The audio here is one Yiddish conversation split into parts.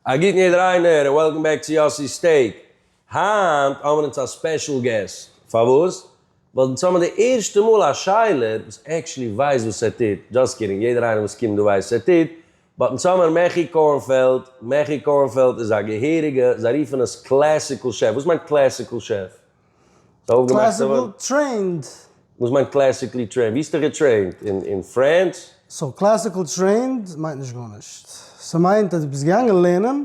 א גוטן יעדער איינער און וועלקאם בעק צו יאסי'ס סטעיק. היינט האבן אונז א ספעשל געסט. פארוואס? ווייל אונז האבן די ערשטע מאל א שיילער וואס עקשעלי ווייסט וואס ער טוט. דזשאסט קידינג, יעדער איינער וואס קומט דא ווייסט וואס ער טוט. באט אונז האמער מעכי קארנפעלד. מעכי קארנפעלד איז א געהעריגע, זיי רופן עס קלעסיקל שעף. וואס מיינט קלעסיקל שעף? קלעסיקלי טרעינד? וואס מיינט קלעסיקלי טרעינד? ווי איז ער געטרעינט? אין פרענס? סאו קלעסיקלי טרעינד מיינט נישט גארנישט. ס'מיינט אז דו ביסט געגאנגען לערנען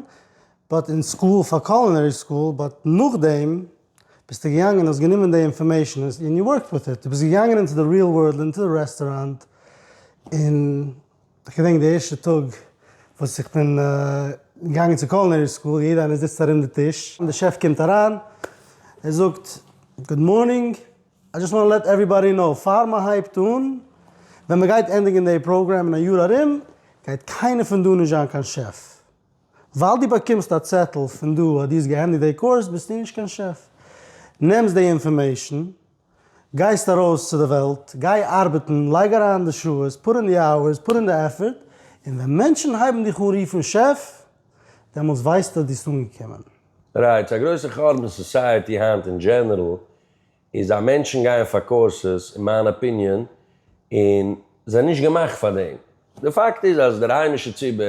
באט אין סקול פאר קולינערי סקול באט נאכדעם ביסטו געגאנגען האסט גענומען די אינפארמעישן און יו ווארקט וויט איט. דו ביסט געגאנגען אינטו די ריעל ווארלד אינטו די רעסטוראנט און. איך געדענק די ערשטע טאג וואס איך בין געגאנגען צו קולינערי סקול, יעדע איינער זיצט ארום די טיש, די שעף קומט אריין, ער זאגט גוד מארנינג, איי דזשאסט וואנט טו לעט עוועריבאדי קנאו, פאר מען הייבט אן, ווען מען גייט ענדיגן די פראגרעם אין א יאר ארום, גייט קיינער פון דא נישט זיין קיין שעף, ווייל דו באקומסט א צעטל פון דא אז דו האסט געענדיגט די קורס, ביסטו נישט קיין שעף, נעמסט די אינפארמעישן, גייסט ארויס צו די וועלט, גיי ארבעטן, לייג אריין די שעות, פוט אין די אווערס, פוט אין די עפערט, און ווען מענטשן הייבן דיך אן רופן שעף, דעמאלטס ווייסטו דו האסט אנגעקומען. רייטס, א גרויסע חורבן אין סאסייעטי היינט אין דזשענערל איז אז מענטשן גייען פאר קאורסעס, אין מיין אפיניען, און זענען נישט געמאכט פאר דעם. די פאקט איז אז דער היימישער ציבור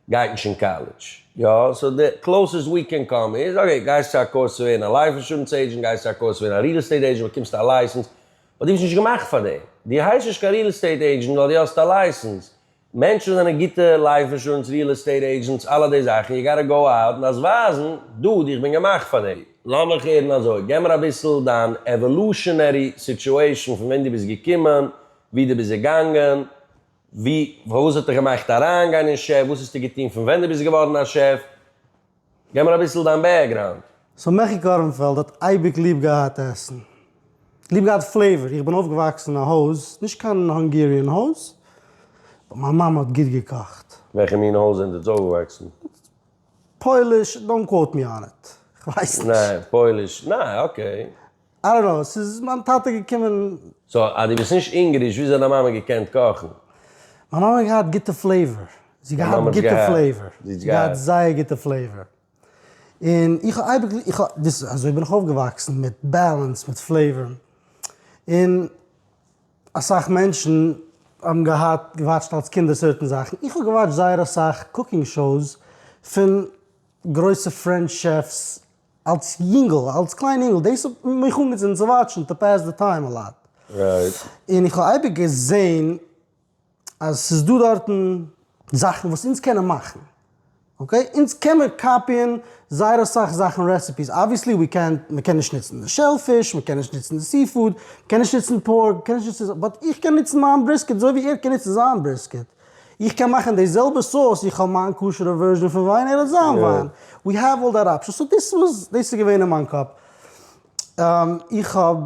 גייט נישט אין קאלעדזש. יא, סאו די קלאוסעסט ווי קען קאם איז, אקעי, גייסט צו א קורס צו ווערן א לייף אינשורענס עידזשענט, גייסט צו א קורס צו ווערן א ריעל עסטעיט עידזשענט, באקומסט א לייסענס, באט דו ביסט נישט געמאכט פאר דעם. דו הייסט נישט קיין ריעל עסטעיט עידזשענט ווייל דו האסט א לייסענס. מענטשן וואס זענען גוטע לייף אינשורענס, ריעל עסטעיט עידזשענטס, אלע די זאכן, יו גאטע גאו אוט און דארפסט ווייזן, דוד, איך בין געמאכט פאר דעם. לאמיך הערן אזוי, גיב מיר אביסל דיין עוואלושענערי סיטועשאן פון ווען דו ביסט געקומען, ווי דו ביסט געגאנגען, ווי וואס האט דיך געמאכט אריינגיין אין שעף? וואס האסטו געטון פון ווען דו ביסט געווארן א שעף? גיב מיר אביסל דיין בעקגראונד. סאו מעכי קארנפעלד האט אייביג ליב געהאט עסן, ליב געהאט פלעיווער, איך בין אויפגעוואקסן אין א הויז, נישט קיין האנגעריען הויז, באט מיין מאמע האט גוט געקאכט. וועלכע מין הויז זענט אונז אויפגעוואקסן? פויליש, דאנט קוואוט מי אן איט, כ'ווייס נישט. ניין, פויליש, ניין, אקעי. איי דאנט נאו, ס'איז מיין טאטע געקומען. סא אז דו ביסט נישט אונגעריש וויאזוי האט דיין מאמע געקענט קאכן? מיין מאמע האט געהאט גוטע פלעיווער, זי האט געהאט גוטע פלעיווער, זי האט געהאט זייער גוטע פלעיווער, און איך האב אייביג, איך האב, דאס, אזוי בין איך אויפגעוואקסן, מיט בעלענס, מיט פלעיווער, און אסאך מענטשן האבן געהאט, געוואטשט אלס קינדער סערטען זאכן, איך האב געוואטשט זייער אסאך קוקינג שאוס פון גרויסע פרענטש שעפס, אלס יונגל, אלס קליין יונגל, דאס האט מיך אנגעצינדן צו וואטשן טו פעס די טיים א לאט. רייט. און איך האב אייביג געזען אז ס'איז דא דארטן זאכן וואס אונז קענען מאכן, אקעי? אונז קען מען קאפיען זייער אסאך זאכן רעסעפיס, אבוויעסלי ווי קענט, מ'קען נישט ניצן די שעל פיש, מ'קען נישט ניצן די סי פוד, מ'קען נישט ניצן פארק, מ'קען נישט ניצן, באט איך קען ניצן מיין בריסקעט אזוי ווי ער קען ניצן זיין בריסקעט. איך קען מאכן די זעלבע סאוס, איך האב מיין כשר'ע ווערזשען פון וויין, ער האט זיין וויין, ווי העוו אלל דעט אפשענס, סאו דאס וואס דאס איז געווען אין מיין קאפ, איך האב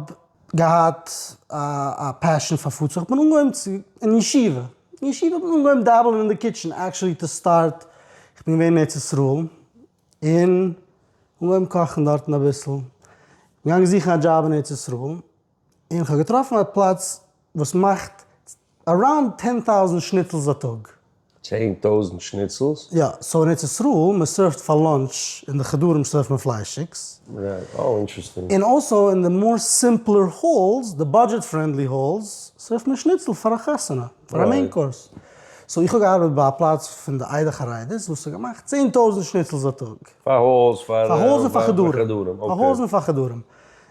געהאט א פעשען פאר פוד, סאו איך בין אנגעהויבן צו, אין ישיבה, אין ישיבה האט מען אנגעהויבן דאבעלען אין די קיטשען, עקשעלי טו סטארט, איך בין געווען אין ארץ ישראל, און אנגעהויבן קאכן דארטן אביסל, געגאנגען זוכן א דזשאב אין ארץ ישראל. און איך האב געטראפן א פלאץ וואס מאכט אראונד טען טאוזענט שניצלס א טאג. צען טויזענט שניצלס? יא, סאו אין ארץ ישראל מען סערווט פאר לאנטש אין די חדרים סערווט מען פליישיגס. רייט, אוי אינטרעסטינג. און אלסאו אין די מאר סימפלער האלס, די באדזשעט פרענדלי האלס, סערווט מען שניצל פאר א חתונה, פאר א מעין קאורס. סאו איך האב געארבעט ביי א פלאץ פון די עדה חרדית וואס האט געמאכט צען טויזענט שניצלס א טאג. פאר האלס, פאר. פאר האלס און פאר חדרים. פאר האלס און פאר חדרים.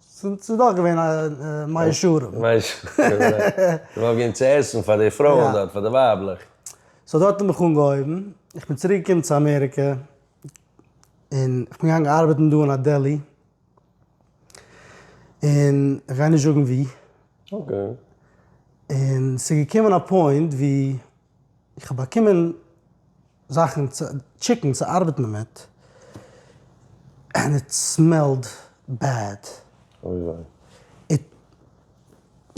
ס'איז דאך געווען א מאה שערים. מאה שערים, אזוי. מ'האט געגעבן צו עסן פאר די פרויען דארט, פאר די ווייבלעך. סאו דארט האט מען מיך אנגעהויבן. איך בין צוריק געקומען צו אמעריקע, און איך בין געגאנגען ארבעטן דא אין א דעלי. און איך גיי נישט זאגן וואו. אקעי. און ס'איז געקומען א פוינט וואו איך האב באקומען. זאכן צו טשיקן צו ארבעט מען מיט ענד איט סמעלד בעד. אוי וויי. איט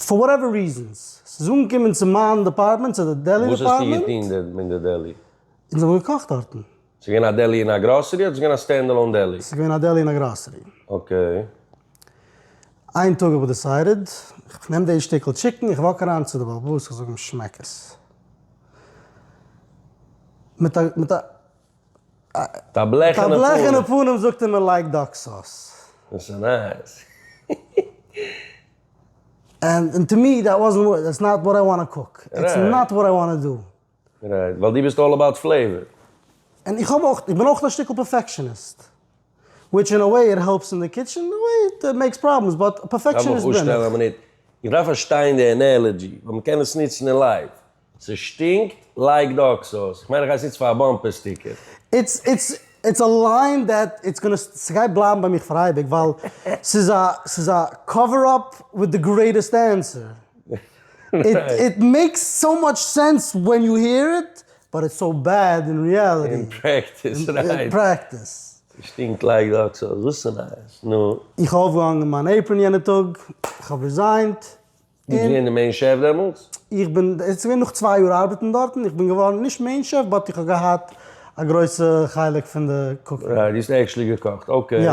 פאר וואטעווער ריזענס ס'איז אנגעקומען צו מיין דעפארטמענט צו די דעלי וואס האסטו דעפארטמענט. געטון דען אין די דעלי? אונז האבן געקאכט דארטן. ס'איז געווען א דעלי אין א גראסערי אדער ס'איז געווען א סטענד עלאון דעלי? ס'איז געווען א דעלי אין א גראסערי. אקעי. איין טאג האב איך דעסיידעד איך נעם די שטיקל טשיקן איך וואק אריין צו די בעל הבית איך זאג אים שמעק עס מיט א מיט א מיט א בלעכענע פנים זאגט ער מען לייגט דאק סאס און טו מי דעט וואזענט וואט איטס נאט וואט איי וואנט טו קוק איטס נאט וואט איי וואנט טו דו רייט, ווייל דו ביסט אלל אבאוט פלעיווער. און איך האב אויך, איך בין אויך א שטיקל פערפעקשעניסט. וויטש אין א וועי איט העלפס אין די קיטשען, אין א וועי איט מעיקס פראבלעמס, באט א פערפעקשעניסט בין איך. איך דארף פארשטיין די ענעלעדזשי, ווייל מען קען עס נוצן אין לייוו. ס'שטינקט, לייג די אקס אויס. כ'מיין איך גיי עס נוצן פאר א באמפער סטיקער. איטס איטס איטס א ליין דעט איטס גאנא ס'גייט בלייבן ביי מיך פאר אייביג ווייל ס'איז א ס'איז א קאווער אפ וויט די גרעיטעסט ענסער. איט מעיקס סאו מאטש סענס ווען יו העיר איט, באט איטס סאו בעד אין ריעליטי. אין פרעקטיס, רייט. שטינקט לייק דארט סאו וואס איז נייעס? נו. איך האב אויפגעהאנגען מיין עיפראן יענע טאג, איך האב ריזיינט. ביסט געווען די מעין שעף דעמאלטס? איך בין, עס איז געווען נאך צוויי יאר ארבעטן דארטן, איך בין געווארן נישט מעין שעף באט איך האב געהאט א גרויסע חלק פון די קוקינג. רייט, דו האסט עקשלי געקאכט, אקעי. יא.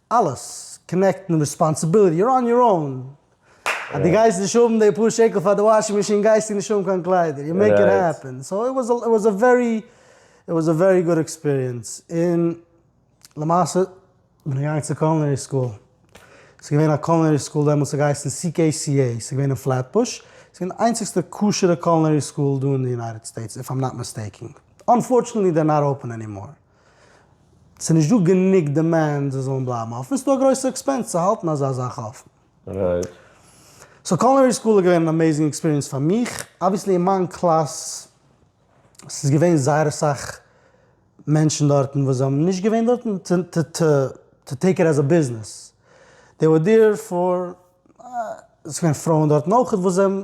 אלעס, קאנעקטן, ריספאנסעביליטי, יור אן יור און, אז די גייסט נישט האבן די פאר שקל פאר די וואשינג מאשין גייסטו נישט האבן קיין קליידער, יו מעיק איט העפען, סאו איט וואס איט וואס א ווערי איט וואס א ווערי גוד עקספיריענס, און למעשה בין איך געגאנגען צו קולינערי סקול, ס'איז געווען א קולינערי סקול דעמאלטס ס'האט געהייסן CKCA ס'איז געווען אין פלעטבוש, ס'איז געווען די איינציגסטע כשר'ע קולינערי סקול דא אין די יונייטעד סטעיטס איף איים נאט מיסטעיקען, אנפארטשענעטלי דער נאט אפען ענימאר. ס'איז נישט דא גענוג דימענד זיי זאלן בלייבן אפן, ס'איז דא א גרויסע עקספענס צו האלטן אזא זאך אפן. רייט. סאו קולינערי סקול איז געווען אן אמעיזינג עקספיריענס פאר מיך, אבוויעסלי אין מיין קלאס ס'איז געווען זייער אסאך מענטשן דארטן וואס זיי האבן נישט געווען דארטן טו טו טו טו טעיק איט עז א ביזנעס, דעי ווער דיר פאר, ס'איז געווען פרויען דארטן אויכעט וואס זיי האבן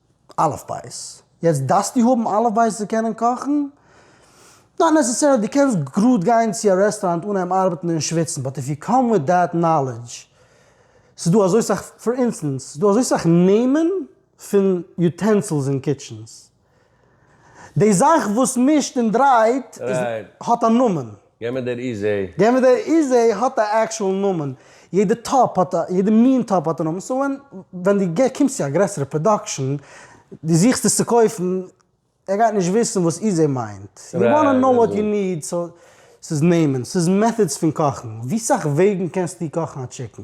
אלף בית, יעצט דארפסטו האבן אלף בית צו קענען קאכן? נאט נעסעסערלי, דו קענסט גראד גיין צו א רעסטוראנט אנהייבן ארבעטן און שוויצן, באט איף יו קאם וויט דעט נאלעדזש, ס'איז דא אזוי סאך, פאר אינסטענס, ס'איז דא אזוי סאך נעמען פון יוטענסילס אין קיטשענס, די זאך וואס מישט און דרייט איז האט א נאמען. גיי מיט דער איזי. גיי מיט דער איזי האט א עקשועל נאמען. יעדע טאפ האט א, יעדע מין טאפ האט א נאמען. סאו ווען ווען דו גיי קומסט צו א גרעסערע פראדאקשען, דו זוכסט עס צו קויפן, ער גייט נישט וויסן וואס איזי מיינט. יו וואנא נאו וואט יו ניד. סאו ס'איז נעמען. ס'איז מעטהאדס פון קאכן. ווי סאך וועגן קענסטו קאכן א טשיקן?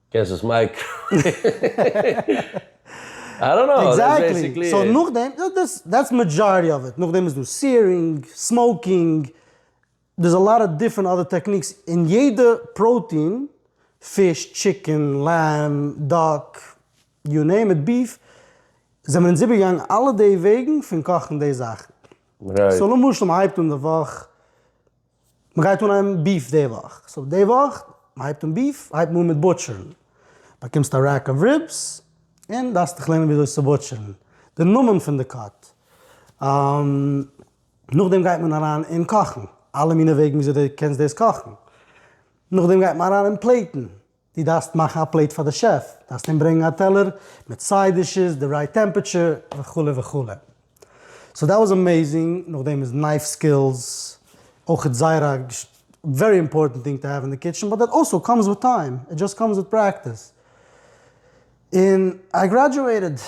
קענסט עס מייקרא. איי דאנט נאו, דאס איז בעסיקלי איט. סאו נאכדעם, דעטס מעדזשארעטי אוו איט, נאכדעם איז דא סיערינג, סמאוקינג, דערס א לאט אוו דיפרענט אדער טעקניקס, און יעדע פראוטין, פיש, טשיקען, לעמב, דאק, יו נעים איט, ביף, זעמיר אונז איבערגעגאנגען אלע די וועגן פון קאכן די זאכן. סאו למשל מ'הייבט אן די וואך. מ'גייט אנהייבן ביף די וואך, סאו די וואך מ'הייבט אן ביף, הייבט מען אן מיט בוטשערן, באקומסט א רעק אוו ריבס, און דארפסט דיך לערנען וויאזוי צו בוטשערן, די נאמען פון די קאט, נאכדעם גייט מען אריין אין קאכן, אלע מיני וועגן וויאזוי די קענסט דאס קאכן, נאכדעם גייט מען אריין אין פלעיטן, דו דארפסט מאכן א פלעיט פאר די שעף, דארפסט אים ברענגן א טעלער מיט סייד דישעס, די רייט טעמפעטשער, וכו' וכו'. סאו דעט וואס עמעיזינג, נאכדעם איז נייף סקילס אויכעט זייער א ווערי אימפארטענט טינג טו העוו אין די קיטשען, באט דעט אלסא קאמס וויט טיים, איט דזשאסט קאמס וויט פרעקטיס. און איי גרעדזשועיטעד,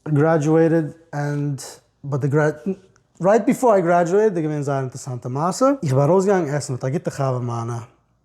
גרעדזשועיטעד ענד באט די גרעדזשועישאן, רייט ביפאר איי גרעדזשועיטעד איז געווען זייער אינטערעסאנטע מעשה, איך בין ארויסגעגאנגען עסן מיט א גוטע חבר מיינע,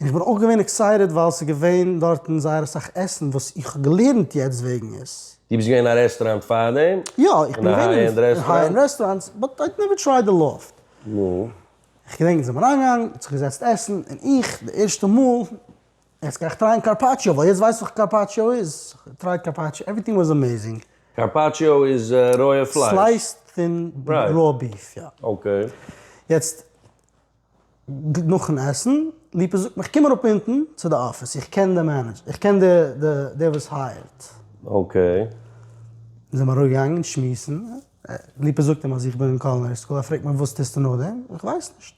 און איך בין אויך געווען עקסייטעד ווייל ס'איז געווען דארטן זייער אסאך עסן וואס איך האב געלערנט יעצט וועגן עס. דו ביסט געווען אין א רעסטוראנט פארדעם? יא, איך בין געווען אין היי ענד רעסטוראנטס, באט איי נעווער טרייד די לאפט. נו? איך געדענק מיר זענען אריינגעגאנגען, מ'האט זיך געזעצט עסן, און איך, די ערשטע מאל, יעצט גיי איך טרייען קארפאטשיא, ווייל יעצט ווייס איך וואס קארפאטשיא איז, טרייד קארפאטשיא, עווריטינג וואס עמעזינג. קארפאטשיא איז רויע פלייש? סלייסד פון רויע ביף, יא. אקעי. יעצט. נאכן עסן, ליפא זאגט מיר קום אראפ אונטן צו די אפיס, איך קען די מענעדזשער, איך קען דער וואס הייערט. אקעי. אונז זעמיר אראפגעגאנגען שמועסן, ליפא זאגט אים אז איך בין אין קולינערי סקול, ער פרעגט מיר וואס טוסטו נאכדעם, איך ווייס נישט.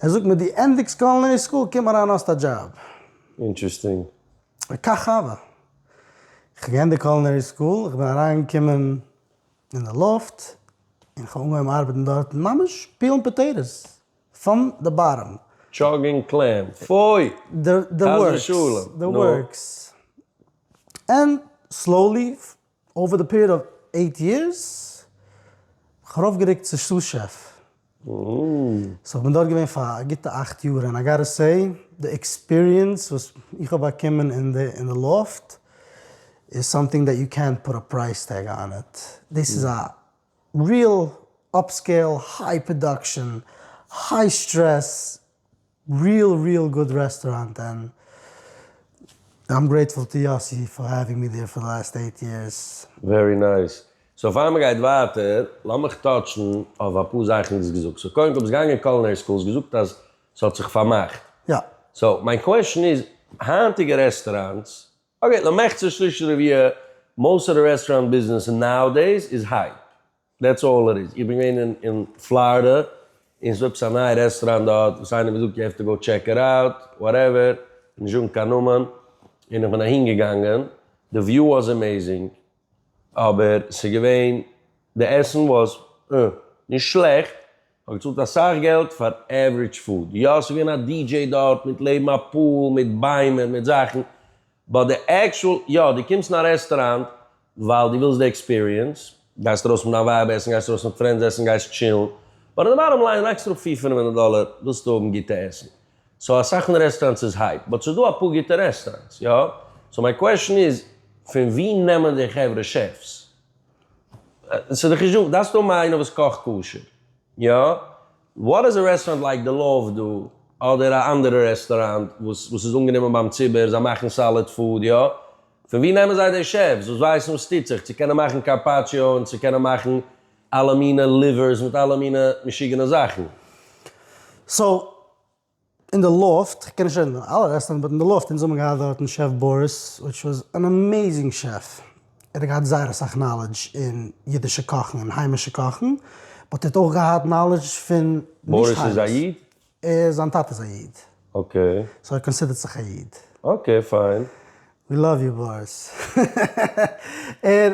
ער זאגט מיר דו ענדיגסט קולינערי סקול, קום אריין האסט א דזשאב. אינטערעסטינג. וכך הוה. איך האב געענדיגט קולינערי סקול, איך בין אריינגעקומען. אין די לופט, און כ'האב אנגעהויבן ארבעטן דארטן, ממש פילן פאטעיטאס פון די באטעם. טשאגינג קלעם, פוי! חס ושלום, נו. און סלאולי, אווער די פיריעד אוו עיט יערס, האב איך ארויפגערוקט צו סאס שעף, סאו כ'בין דארט געווען פאר א גוטע אכט יאר און איי גאטע סעי די עקספיריענס וואס איך האב באקומען אין די לופט איז סאמטינג דעט יו קענט פוט א פרייס טעג אן איט, דאס איז א ריעל אפסקעיל היי פראדאקשען היי סטרעס ריעל ריעל גוד רעסטוראנט ענד איים גרעיטפול טו יאסי פאר העווינג מי דעיר פאר די לעסט עיט יערס. ווערי נייס. סאו פאר מען גייט ווייטער, לאמיך טאטשן אויף אפאר זאכן וואס דו האסט געזאגט. סאו קודם כל ביסט געגאנגען קולינערי סקול, האסט געזאגט אז ס'האט זיך פארמאכט. יא. סאו מיין קוועשן איז, היינטיגע רעסטוראנטס, אקעי, למחצה שליש רביע, מאוסט אוו די רעסטוראנט ביזנעס נאו דעיס איז הייפ. דעטס אלל איט איז. איך בין געווען אין אין פלארידע און ס'איז עפעס א נייע רעסטוראנט דארט וואס איינער האט געזאגט יו העוו טו גאו טשעק איט אוט, וואטעווער, נישט זאגן קיין נאמען, און איך בין אהין געגאנגען, די וויו וואס עמעזינג, אבער ס'איז געווען, די עסן וואס אה, נישט שלעכט, כ'האב געצאלט אסאך געלט פאר עווערידזש פוד, יא ס'איז געווען א די דזשעי דארט מיט לעבן א פול מיט ביימער מיט זאכן, באט די עקשועל, יא, דו קומסט אין א רעסטוראנט ווייל דו ווילסט די עקספיריענס, גייסט ארויס מיט דיין ווייב עסן, גייסט ארויס מיט פרענדס עסן, גייסט טשילן, באט אין די באטאם ליין לייגסטו אראפ פֿיר פינף הונדערט דאלער ווילסטו האבן גוטע עסן, סאו אסאך פון די רעסטוראנטס איז הייפ, באט ס'איז דא אפאר גוטע רעסטוראנטס, יא, סאו מיין קוועשן איז פון ווי נעמען די חברה שעפס? ס'איז די חשבון, דארפסט האבן איינער וואס קאכט כשר, יא, וואט איז א רעסטוראנט לייק די לאוו דא אדער א אנדערע רעסטוראנט וואס וואס איז אנגענומען ביים ציבור זיי מאכן סאליד פוד יא? פון ווי נעמען זיי די שעפס וואס ווייסן וואס טוט זיך צו קענען מאכן קארפאטשיאו און צו קענען מאכן אלע מינע ליווערס מיט אלע מינע משוגענע זאכן סאו אין די לופט, כ'קען נישט רעדן פון אלע רעסטאראנט באט אין די לופט, אונז האבן געהאט דארטן שעף בוריס וויטש וואס אן אמעיזינג שעף, ער האט געהאט זייער אסאך נאלעדזש אין אידישע קאכן און היימישע קאכן, באט ער האט אויך געהאט נאלעדזש פון נישט היימיש. בוריס איז א איד? זיין טאטע איז א איד. אקעי. סאו ער קאנסידערט זיך א איד. אקעי פיין. ווי לאוו יו בוריס. ער.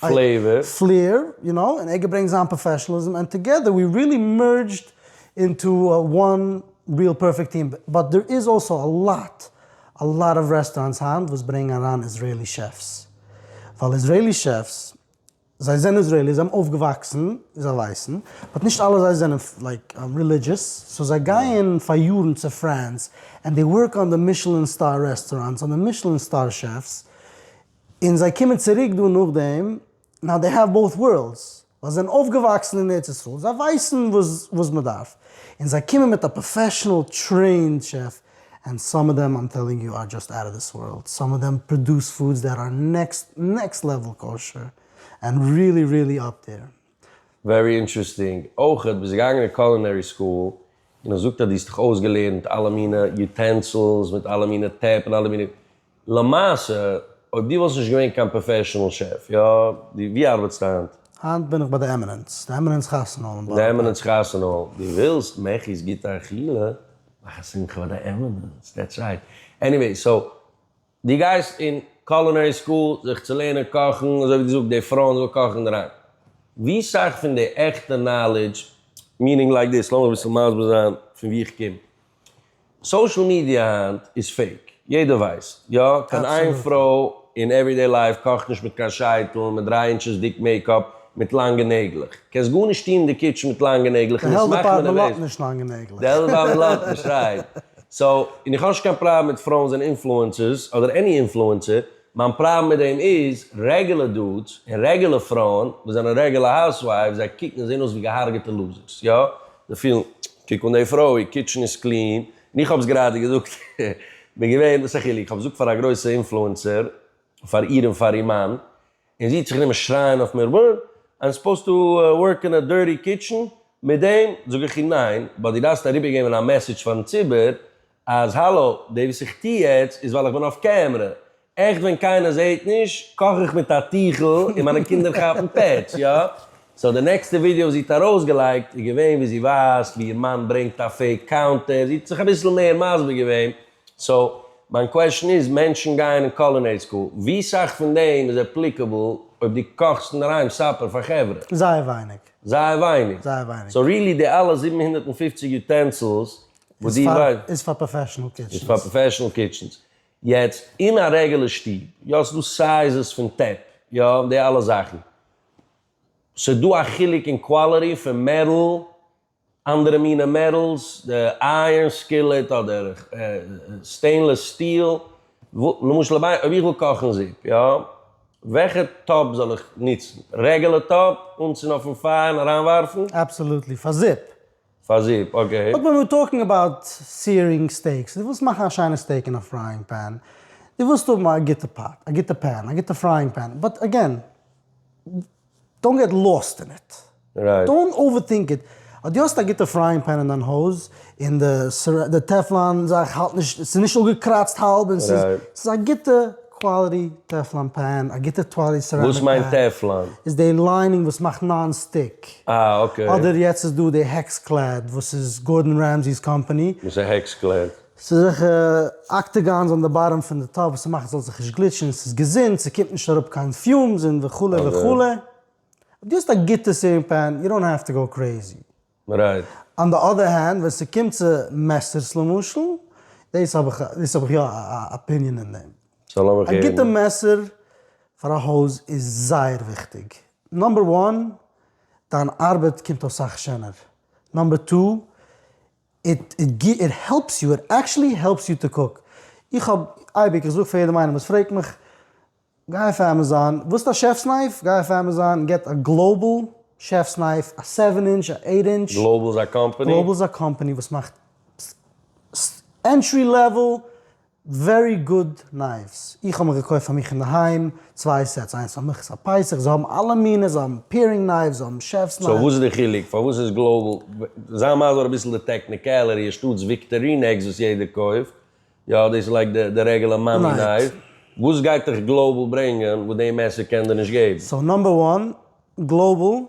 פלעיווער. פלעיר, יו נאו, און ער געברענגט זיין פראפעשאנליזם, ענד טאגעדער ווי ריעלי מערדזשד אינטו וואן ריעל פערפעקט טיעם, באט דער איז אלסא א לאט, א לאט אוו רעסטאראנטס היינט וואס ברענגן אריין איזרעילי שעפס, ווייל איזרעילי שעפס, זיי זענען איזרעילי, זיי האבן אויפגעוואקסן, און זיי ווייסן, באט נישט אלע זיי זענען לייק רעלידזשעס, סאו זיי גייען פאר יארן צו פרענס, ענד דעי ווארק אן די מישעלין סטאר רעסטאראנטס, אן די מישעלין סטאר שעפס, און זיי קומען צוריק דא נאכדעם, נאו דעי העוו באות ווארלדס, ווייל זיי זענען אויפגעוואקסן אין ארץ ישראל, זיי ווייסן וואס מען דארף, און זיי קומען מיט א פראפעשענעל טרעינד שעף, ענד סאם אוו דעם איים טעללינג יו אר דזשאסט אוט אוו דיס ווארלד, סאם אוו דעם פראדוס פודס דעט אר נעקסט נעקסט לעוועל קאושער, ענד ריעלי ריעלי אפ דעיר. ווערי אינטערעסטינג. אויך ביסט געגאנגען אין קולינערי סקול, און עס זאגט אז דו האסט דיך אויסגעלערנט אלע מיני יוטענסילס מיט אלע מיני טעפ און אלע מיני למעשה, אויב דו וואלסט נישט געווען קיין פראפעשענעל שעף, יא, דו, ווי ארבעטסטו היינט? היינט בין איך ביי די עמינענס, די עמינענס חתונה האל אין בארא פארק. די עמינענס חתונה האל, דו ווילסט מעכי'ס גוטע אכילה? מאך א שמחה ביי די עמינענס, דעטס רייט. עניוועי, סאו, דו גייסט אין קולינערי סקול זיך צו לערנען קאכן, אזוי ווי דו זאגסט, די פרויען זאלן קאכן אין אריין. ווי סאך פון די עכטע נאלידזש, מינינג לייק דיס, לאמיך אביסל מסביר זיין פון ווי איך קום. סאושעל מידיע היינט איז פעיק, יעדער ווייסט, יא, קיין איין פרוי אין עוורידעי לייף קאכט נישט מיט קיין שייטל, מיט דריי אינטשעס דיק מעיקאפ, מיט לאנגע נעגלעך. קענסט גארנישט טון אין די קיטשן מיט לאנגע נעגלעך און עס מאכט מען נערוועז. די העלט דעפארטמענט לאט נישט לאנגע נעגלעך. די העלט דעפארטמענט לאט נישט, רייט. סאו, און איך האב נישט קיין פראבלעם מיט פרויען זענען אינפלוענסערס, אדער עני אינפלוענסער, מיין פראבלעם מיט דעם איז, רעגולער דודס, און רעגולער פרויען, וואס זענען רעגולער האוזווייפס, זיי קוקן און זעהן אויס ווי געהארגעטע לוזערס, יא, זיי פילן, קוק אן די פרוי, איר קיטשן איז קלין, און איך האב עס גראדע געזאגט, כ'בין געווען, וואס איז א חילוק, כ'האב געזאגט פאר א גרויסע אינפלוענסער, פאר איר און פאר איר מאן, און זי האט זיך גענומען שרייען אויף מיר, וואט? איים סופאוזד טו ווארק אין א דירטי קיטשן? מיט דעם זאג איך איר ניין, באט דו דארפסט אריבערגעבן א מעסעדזש פארן ציבור אז האלא, דעי וואס איך טוה יעצט איז ווייל איך בין אויף קעמרע, עכט ווען קיינער זעהט נישט קאך איך מיט א טיכל און מיינע קינדער כאפן פעטש, יא? סאו די נעקסטע ווידיאו וואס זי האט ארויסגעלייגט איז געווען ווי זי ווייזט ווי איר מאן ברענגט א פעיק קאונטער, זי האט זיך אביסל מער מסביר געווען, סאו מיין קוועשן איז, מענטשן גייען אין קולינערי סקול, ווי סאך פון דעם איז עפליקעבל אויב דו קאכסט אינדערהיים סאפער פאר חברה? זייער ווייניג. זייער ווייניג? זייער ווייניג. סאו ריעלי די אלע זיבן הונדערט און פופציג יוטענסילס, וואס די ווייסט איז פאר פראפעשענעל קיטשענס, איז פאר פראפעשענעל קיטשענס, יעצט אין א רעגעלע שטוב, יא ס'דא סייזעס פון טעפ, יא די אלע זאכן, ס'דא א חילוק אין קוואליטי פון מעטאל, אנדערע מינע מעטאלס, די אייערן סקילעט אדער סטעינלעס סטיל, למשל אויב איך וויל קאכן זופ יא, וועלכע טאפ זאל איך נוצן, רעגעלע טאפ אנצינדן אויפן פייער און אריינווארפן? אבסאלוטלי, פאר זופ, פאר זופ, אקעי. אויב מ'וויל טאלקן אבאוט סיערינג סטעיקס, דו ווילסט מאכן א שיינע סטעיק אין א פרייאינג פען, דו ווילסט האבן א גוטע פאט, א גוטע פען, א גוטע פרייאינג פען, באט אגעין, דאנט געט לאסט אין איט. רייט. דאנט אווערטינק איט. אז דו האסט א גוטע פרייאינג פען אין דיין הויז, און די טעפלאן זאך האלט נישט, ס'איז נישט אפגעקראצט האלב, און ס'איז, ס'איז א גוטע. קוואליטי טעפלאן פען, א גוטע טוואלי סעראמיק פען. וואס מיינט טעפלאן? איז די ליינינג וואס מאכט נאן סטיק. אה אקעי. אדער יעצט איז דא די העקסקלעד וואס איז גארדען רעמזי'ס קאמפאני. וואס איז העקסקלעד? ס'איז אזעלכע אקטעגאנס אן די באטאם פון די טאפ וואס ס'מאכט ס'זאל זיך נישט גליטשן, ס'איז געזונט, ס'קומט נישט אראפ קיין פיומס און וכו' וכו'. אויב דו האסט א גוטע סעווינג פען, יו דאנט העוו טו גאו קרעיזי. רייט. אן די אדער הענד ווען ס'קומט צו מעסערס למשל, דאס האב איך דאס האב איך יא א אפיניען אין דעם. סא לאמיך הערן. א גוטע מעסער פאר א הויז איז זייער וויכטיג. נאמבער וואן, דיין ארבעט קומט אויס סאך שענער. נאמבער טו, איט איט העלפס יו, איט עקטשעלי העלפס יו טו קוק. איך האב אייביג, איך זאג פאר יעדעם איינעם וואס פרעגט מיך. גיי אויף עמעזאן, ווילסט א שעפס נייף? גיי אויף עמעזאן און געט א גלאובעל שעפס נייף, א סעווען אינטש, א עיט אינטש. גלאובעל איז א קאמפאני? גלאובעל איז א קאמפאני וואס מאכט ענטרי לעוועל ווערי גוד נייווס, איך האב מיך געקויפט פאר מיך אינדערהיים צוויי סעטס, איינס פאר מיך איז פאר פסח, זיי האבן אלע מיני, זיי האבן פעירינג נייווס, זיי האבן שעפס נייווס. סאו וואס איז די חילוק? פארוואס איז גלאובעל, זיי מסביר אביסל די טעקניקעלערי, אנשטאטס וויקטארינעקס וואס יעדער קויפט, יא דאס לייגט די די רעגעלע מאמי נייף. וואס גייט דיך גלאובעל ברענגען וואס די מעסער קען דיר נישט געבן? סאו נאמבער וואן, גלאובעל,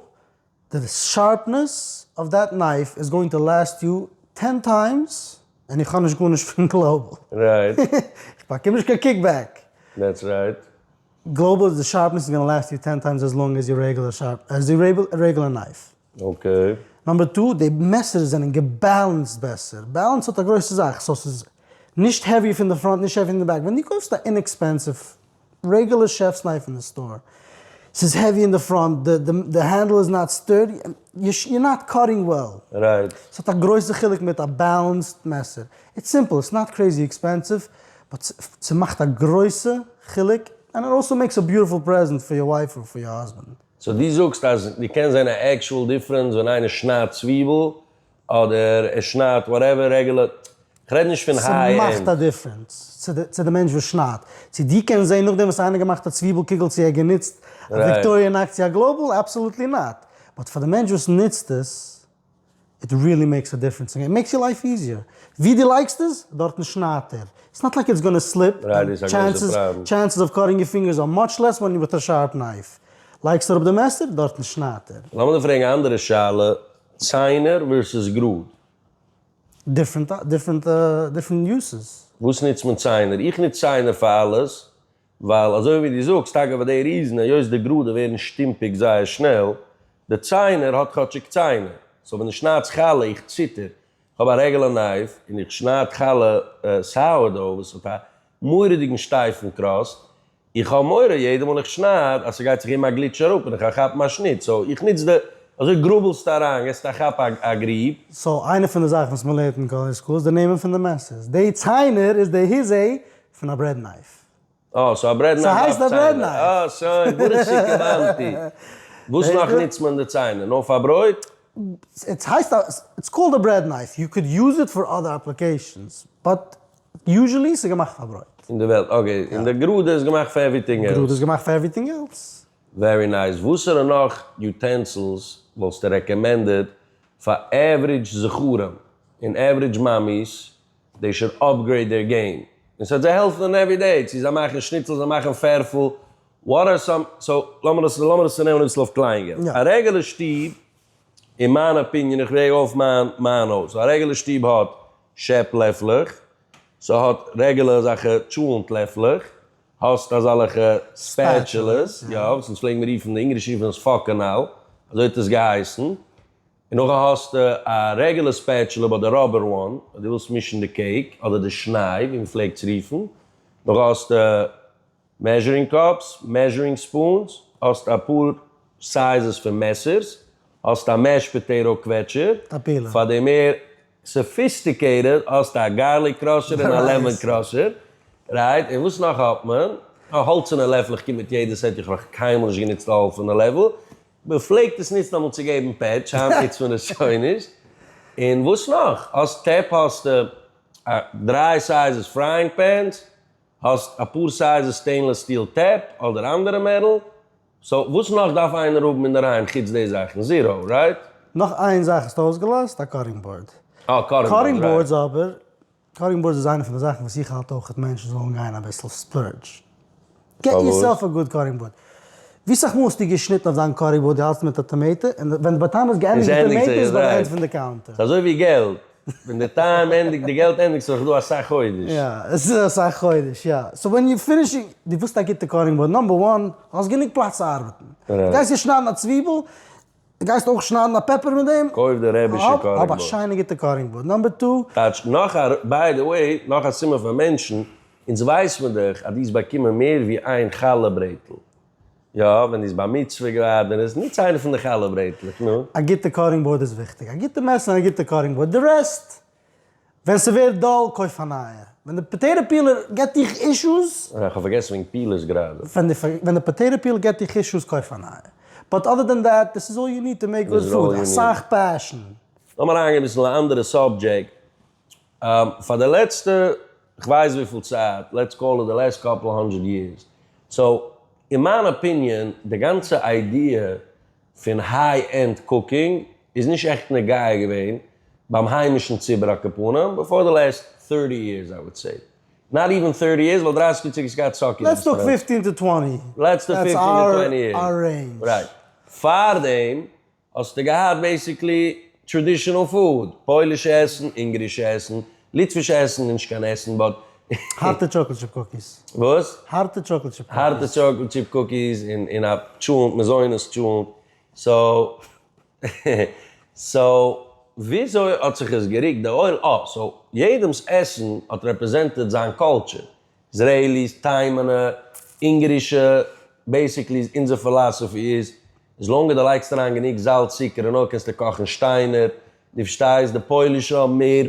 די שארפנעס אוו דעט נייף איז גאוינג טו לעסט יו טען טיימס, און איך האב נישט גארנישט פון גלאובעל. רייט. איך באקום נישט קיין קיק בעק. דעטס רייט. גלאובעל, די שארפנעס איז גאנא לעסט יו טען טיימס עז לאנג עז יור רעגעלער שארפ עז יור רעגעלער נייף. אקעי. נאמבער טו, די מעסערס זענען געבעלענסד בעסער, בעלענס האט א גרויסע זאך, סאו ס'איז נישט העווי פון די פראנט נישט העווי פון די בעק, ווען דו קויפסט א אינעקספענסיוו רעגולער שעפס נייף אין די סטאר, ס'איז העווי אין די פראנט, די הענדל איז נאט סטורדי, יור נאט קאטינג וועל. רייט. ס'האט א גרויסע חילוק מיט א בעלענסד מעסער. איטס סימפל, איטס נאט קרעיזי עקספענסיוו, באט ס'מאכט א גרויסע חילוק, ענד איט אלסא מעיקס א ביוטיפול פרעזענט פאר יור ווייף אר פאר יור האזבענד. סאו דו זאגסט אז דו קענסט זען א עקשועל דיפרענס ווען איינער שניידט צוויבל אדער ער שניידט וואטעווער רעגולער, כ'רעד נישט פון היי ס'מאכט א ענד. דיפרענס צו די צו די מענטש וואס שניידט, צו דו קענסט זען נאכדעם וואס איינער האט געמאכט א צוויבל קוגל צו ער האט גענוצט א וויקטאריע נייף צו א גלאובעל, אבסאלוטלי נאט, באט פאר די מענטש וואס נוצט עס איט ריעלי מעיקס א דיפרענס און מעיקס יור לייף איזיער. ווי דו לייגסט עס, דארטן שניידט ער. איטס נאט לייק איטס גאנע סליפ, און טשענסעס אוו קאטינג יור פינגערס אר מאטש לעס ווען יור וויט א שארפ נייף. לייגסט אראפ די מעסער, דארטן שניידט ער. לאמיר דיר פרעגן א אנדערע שאלה, ציינער ווערסעס גראד? דיפרענט דיפרענט דיפרענט יוסעס. וואס נוצט מען ציינער? איך נוץ ציינער פאר אלעס, ווייל אזוי ווי דו זאגסט, אגב די ריזן היות די גראדע ווערן שטומפיג זייער שנעל, די ציינער האט כאטשיג ציינער, סאו ווען איך שנייד חלה איך ציטער, איך האב א רעגולער נייף און איך שנייד חלה סאוערדאו וואס האט א מורא'דיגן שטייפן קראסט, איך האב מורא יעדע מאל איך שנייד אז ס'גייט זיך אום א גליטש אראפ און כ'גייט כאפן א שניט, סאו איך נוץ די, אזוי גראבעלסטו אריין, געסטו א כאפ א גריב. סאו איינע פון די זאכן וואס מ'לערנט אין קאווער סקול איז די נעמען פון די מעסערס, די ציינער איז די היזעי פון א ברעד נייף. אה, סאו א ברעד נייף דארף ציינער. אה, שוין, ברוך שכיוונתי. וואס נאך נוצט מען די ציינער? נאר פאר ברויט? עס הייסט א, איטס קאלד א ברעד נייף, יו קען יוז איט פאר אדער אפליקעישאנס, באט יוזשעלי ס'איז געמאכט פאר ברויט. אין די וועלט, אקעי, און די גראדע איז געמאכט פאר עווריטינג עלס. גראדע איז געמאכט פאר עווריטינג עלס. ווערי נייס. וואסערע נאך יוטענסילס וואלסטו רעקאמענדעד פאר עוורידזש זכרים און עוורידזש מאמיס דעי שויד אפגרעיד דעיר געים, און סוועט זיי העלפן און עווי דעי, צו זיי מאכן שניצל זיי מאכן פערפל, וואט אר סאם, סאו לאמיר דאס לאמיר דאס צונעמען אביסל אויף קליין געלט, א רעגעלע שטוב, אין מיין אפיניען, איך וועג אויף מיין מיין הויז, א רעגעלע שטוב האט שעפ לעפלעך, סהאט רעגעלע אזאלכע טשולענט לעפלעך, האסט אזאלכע ספעטשעלעס, יא, וואס אונז פלעגן מיר רופן, די אונגערישע רופן עס פאקענאל, אזוי האט עס געהייסן, און נאכדעם האסטו א רעגולער ספעטשעלע ביי די ראבער וואן, אויב דו ווילסט מישן די קעיק, אדער די שניי ווי מ'פלעגט עס רופן, נאכדעם האסטו מעזשערינג קאפס, מעזשערינג ספונס, האסט אפאר סייזעס פון מעסערס, האסט א מעש פאטעיטא קוועטשער, פאר די מער סאפיסטיקעיטעד האסטו א גארליק קראשער און א לעמאן קראשער, רייט? און וואס נאך האט מען? א האלצענע לעפל, איך קום מיט יעדע סעט, איך האב נאך קיינמאל נישט גענוצט א האלצענע לעפל, מען פלעגט עס נוצן אמאל צו געבן פעטש, היינט נוצט מען עס שוין נישט. און וואס נאך? האסט טעפ האסטו דריי סייזעס פרייענג פענס, האסט אפאר סייזעס סטעינלעס סטיל טעפ אדער אנדערע מערל, סאו וואס נאך דארף איינער האבן אינדערהיים חוץ די זאכן? זירא, רייט? נאך איין זאך האסטו אויסגעלאזט, א קאטינג באורד. אה, קאטינג באורד, רייט. קאטינג באורדס אבער קארינג בוירדס איז איינע פון די זאכן וואס איך האלט אויך מענטשן זאלן גיין אביסל ספלורדזש. געט יור סעלף א גוד קארינג בורד. ווי סאך מאל האסטו געשניטן אויף דיין קארינג בורד די האלסט מיט א טאמעיטא און ווען די באטאם איז געענדיגט די טאמעיטא איז ביי די ענד פון די קאונטער. ס'איז אזוי ווי געלט, ווען די טיים ענדיגט די געלט ענדיגט זיך דא אסאך חודש. יא, עס איז אסאך חודש, יא. סאו ווען יור פינישינג, דו ווילסט א גוטע קארינג בורד, נאמבער וואן, האסט גענוג פלאץ צו ארבעטן. גייסט יעצט שניידן א צוויבל. די גייסט אויך שניידן א פעפער מיט דעם? קויף די רעבישע קארינג באורד. האב א שיינע גוטע קארינג באורד נאמבער טו. טייטש נאך א ביי די וועי נאך א סימן פאר מענטשן, אונז ווייס מיר דאך אז דו האסט באקומען מער ווי איין חלה ברעטל, יא ווען דו ביסט בר מצוה געווארן און האסט נוץ איינע פון די חלה ברעטלעך, נו. א גוטע קארינג באורד איז וויכטיג, א גוטע מעסער און א גוטע קארינג באורד, די רעסט. ווען ס'ווערט דאל קויף א נייע. ווען די פאטעיטא פילער געט דיך אישוס. אה, כ'האב פארגעסן וועגן פילערס גראדע. ווען די פאטעיטא פילער געט דיך אישוס קויף א נייע. באט אדער דען דעט, דיס איז אלל יו ניד טו מעיק גוד פוד, אסאך פעשן. לאמיר אריינגיין אביסל אין א אנדערע סאבדזשעקט. פאר די לעצטע כ'ווייס וויפיל צייט, לעטס קאל איט די לעסט קאפל האנדרעד יערס, סאו אין מיין אפיניען די גאנצע איידיע, פון היי ענד קוקינג איז נישט עכט נוגע געווען ביים היימישן ציבור הקופונים בעפאר די לעסט טערטי יערס איי וואד סעי. נאט איווען טערטי יערס ווייל דרייסיג יאר צוריק איז געהאט סאקי אין רעסטוראנט. לעטס טאלק פיפטין טו טווענטי. לעטס טאלק פיפטין טו טווענטי יערס. דעטס אר רעינדזש. רייט. פארדעם האסטו געהאט בעיסיקלי טראדישענעל פוד, פוילישע עסן, אונגערישע עסן, ליטווישע עסן, נישט קיין עסן באט. הארטע טשאקלד טשיפ קוקיס. וואס? הארטע טשאקלד טשיפ קוקיס. הארטע טשאקלד טשיפ קוקיס און און א טשולנט, מזונות טשולנט. סאו סאו וויאזוי האט זיך עס גערוקט די עולם? אה סאו יעדעמ'ס עסן האט רעפרעזענטעד זיין קולטשער. איזרעיליס, תימן'ע, אונגערישע, בעסיקלי איז אונזער פילאסאפי איז, איז לאנג אז דו לייגסט אריין גענוג זאלץ צוקער און אויל קענסטו קאכן שטיינער, דו פארשטייסט? די פוילישע האבן מער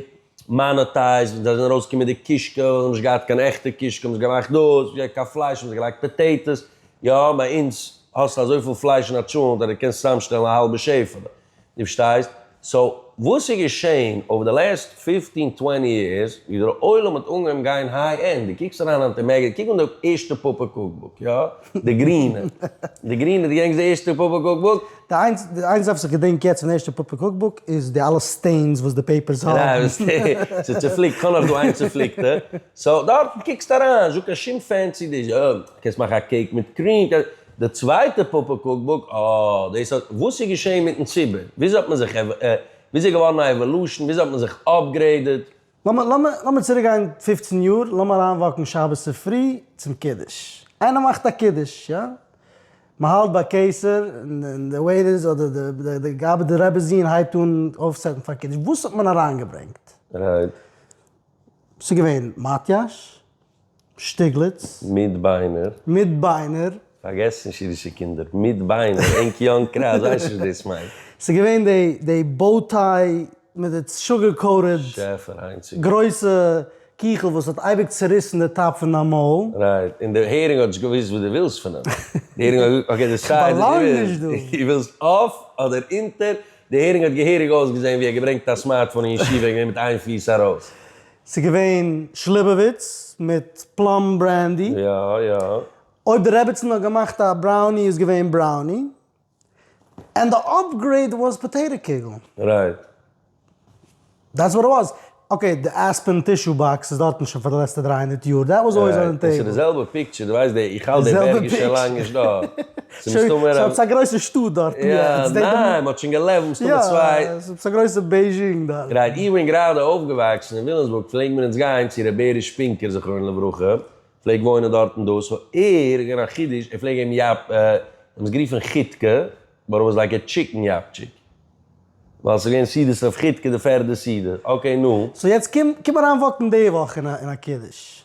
מאנאטעיזם, זיי זענען ארויסגעקומען מיט די קישקע, ווייל זיי האבן נישט געהאט קיין עכטע קישקע האבן זיי געמאכט דאס, ווי אויך קיין פלייש האבן זיי געלייגט פאטעיטאס, יא ביי אונז האסטו אזויפיל פלייש אין א טשולענט אז דו קענסט צוזאמשטעלן א האלבע שעפעלע, דו פארשטייסט? סאו וואס איז געשען אויף די לעסט פיפטין טווענטי יערס ווי דער עולם האט אנגעהויבן גיין היי ענד, דו קוקסט אריין היינט אין מעגעזין, קוק אן די ערשטע פאפא קוקבוק, יא? די גרינע, די גרינע, דו געדענקסט די ערשטע פאפא קוקבוק? די איינציגסטע וואס איך געדענק יעצט פון די ערשטע פאפא קוקבוק איז די אלע סטעינס וואס די פעיפערס האבן. ס'איז צופליקט, כ'האב נאך דא איין צופליקטע. סאו דארטן קוקסטו אריין, נישטא קיין שום פענסי דיש, יא, קענסט מאכן א קעיק מיט קריעם, די צווייטע פאפא קוק בוק, אה, דאס האט, וואס איז געשען מיטן ציבור? וויאזוי האט מען זיך, וויאזוי איז געווארן א עוואלושען? וויאזוי האט מען זיך אפגרעידעד? לאמיר, לאמיר, לאמיר צוריק גיין פֿופֿצן יאר, לאמיר אריין וואקן שבת צופרי צום קידוש. איינער מאכט א קידוש, יא? מען האלט ביי קיסר, און די וועיטערס אדער די, די גאבד און רעבע זיען הייבט אן אויפסעטן פאר קידוש, וואס האט מען אריינגעברענגט? רייט. ס'איז געווען מאטיאש. שטיגליץ. מיט ביינער. מיט ביינער. פארגעס נישט אידישע קינדער, מיט ביינער, ענק יאנג קראו ווייסט נישט וואס דאס מיינט. ס'איז געווען די די באו טיי מיט די שוגער קאוטעד שעפער היינציגע. גרויסע קיכל וואס האט אייביג צוריסן די טאפ פון דיין מויל. רייט, און די הערינג האט נישט געוואוסט וואס דו ווילסט פון אים. די הערינג האט געזאגט אקעי דעסייד וואס דו ווילסט, דו ווילסט אויף אדער אונטער, די הערינג האט געהעריג אויסגעזען ווי ער געברענגט א סמארטפאון אין ישיבה און געווען מיט איין פיס ארויס. ס'איז געווען שליבעוויץ מיט פלאם ברענדי. יא יא. אויב די רעביצן האט געמאכט א בראוני איז געווען בראוני. ענד די אפגרעיד וואס פאטעיטא קוגל. רייט. דעטס וואט איט וואס. אקעי די עספען טישו באקס איז דארטן שוין פאר די לעצטע דריי הונדערט יאר. דעט וואס אלוועיס אן די טעיבל. און ס'איז די זעלבע פיקטשער די ווייסט די איך האלט די בערג איז שוין לאנג נישט דא. ס'מסתמא ער האט א גרויסע שטאט דארט יעצט. ניין מען האט שוין געלעבט מסתמא צוויי. יא ס'איז א גרויסע בייזשינג דארט. גרייט איך בין גראדע אויפגעוואקסן אין וויליאמסבורג פלעגן מיר אונז גיין צו ר' בערי שפינקער זכרונו לברכה פלעג וואוינען דארטן דאס האר איז געווען א חידוש ער פלעג געבן יאפ האבן עס גערופן חיטקע באט איט וואס לייק א טשיקן יאפטשיק ווייל ס'איז געווען סעודות אויף חיטקע די פערדע סעודה אקעי נו. סאו יעצט קום אריין וואקן די וואך אין א קידוש.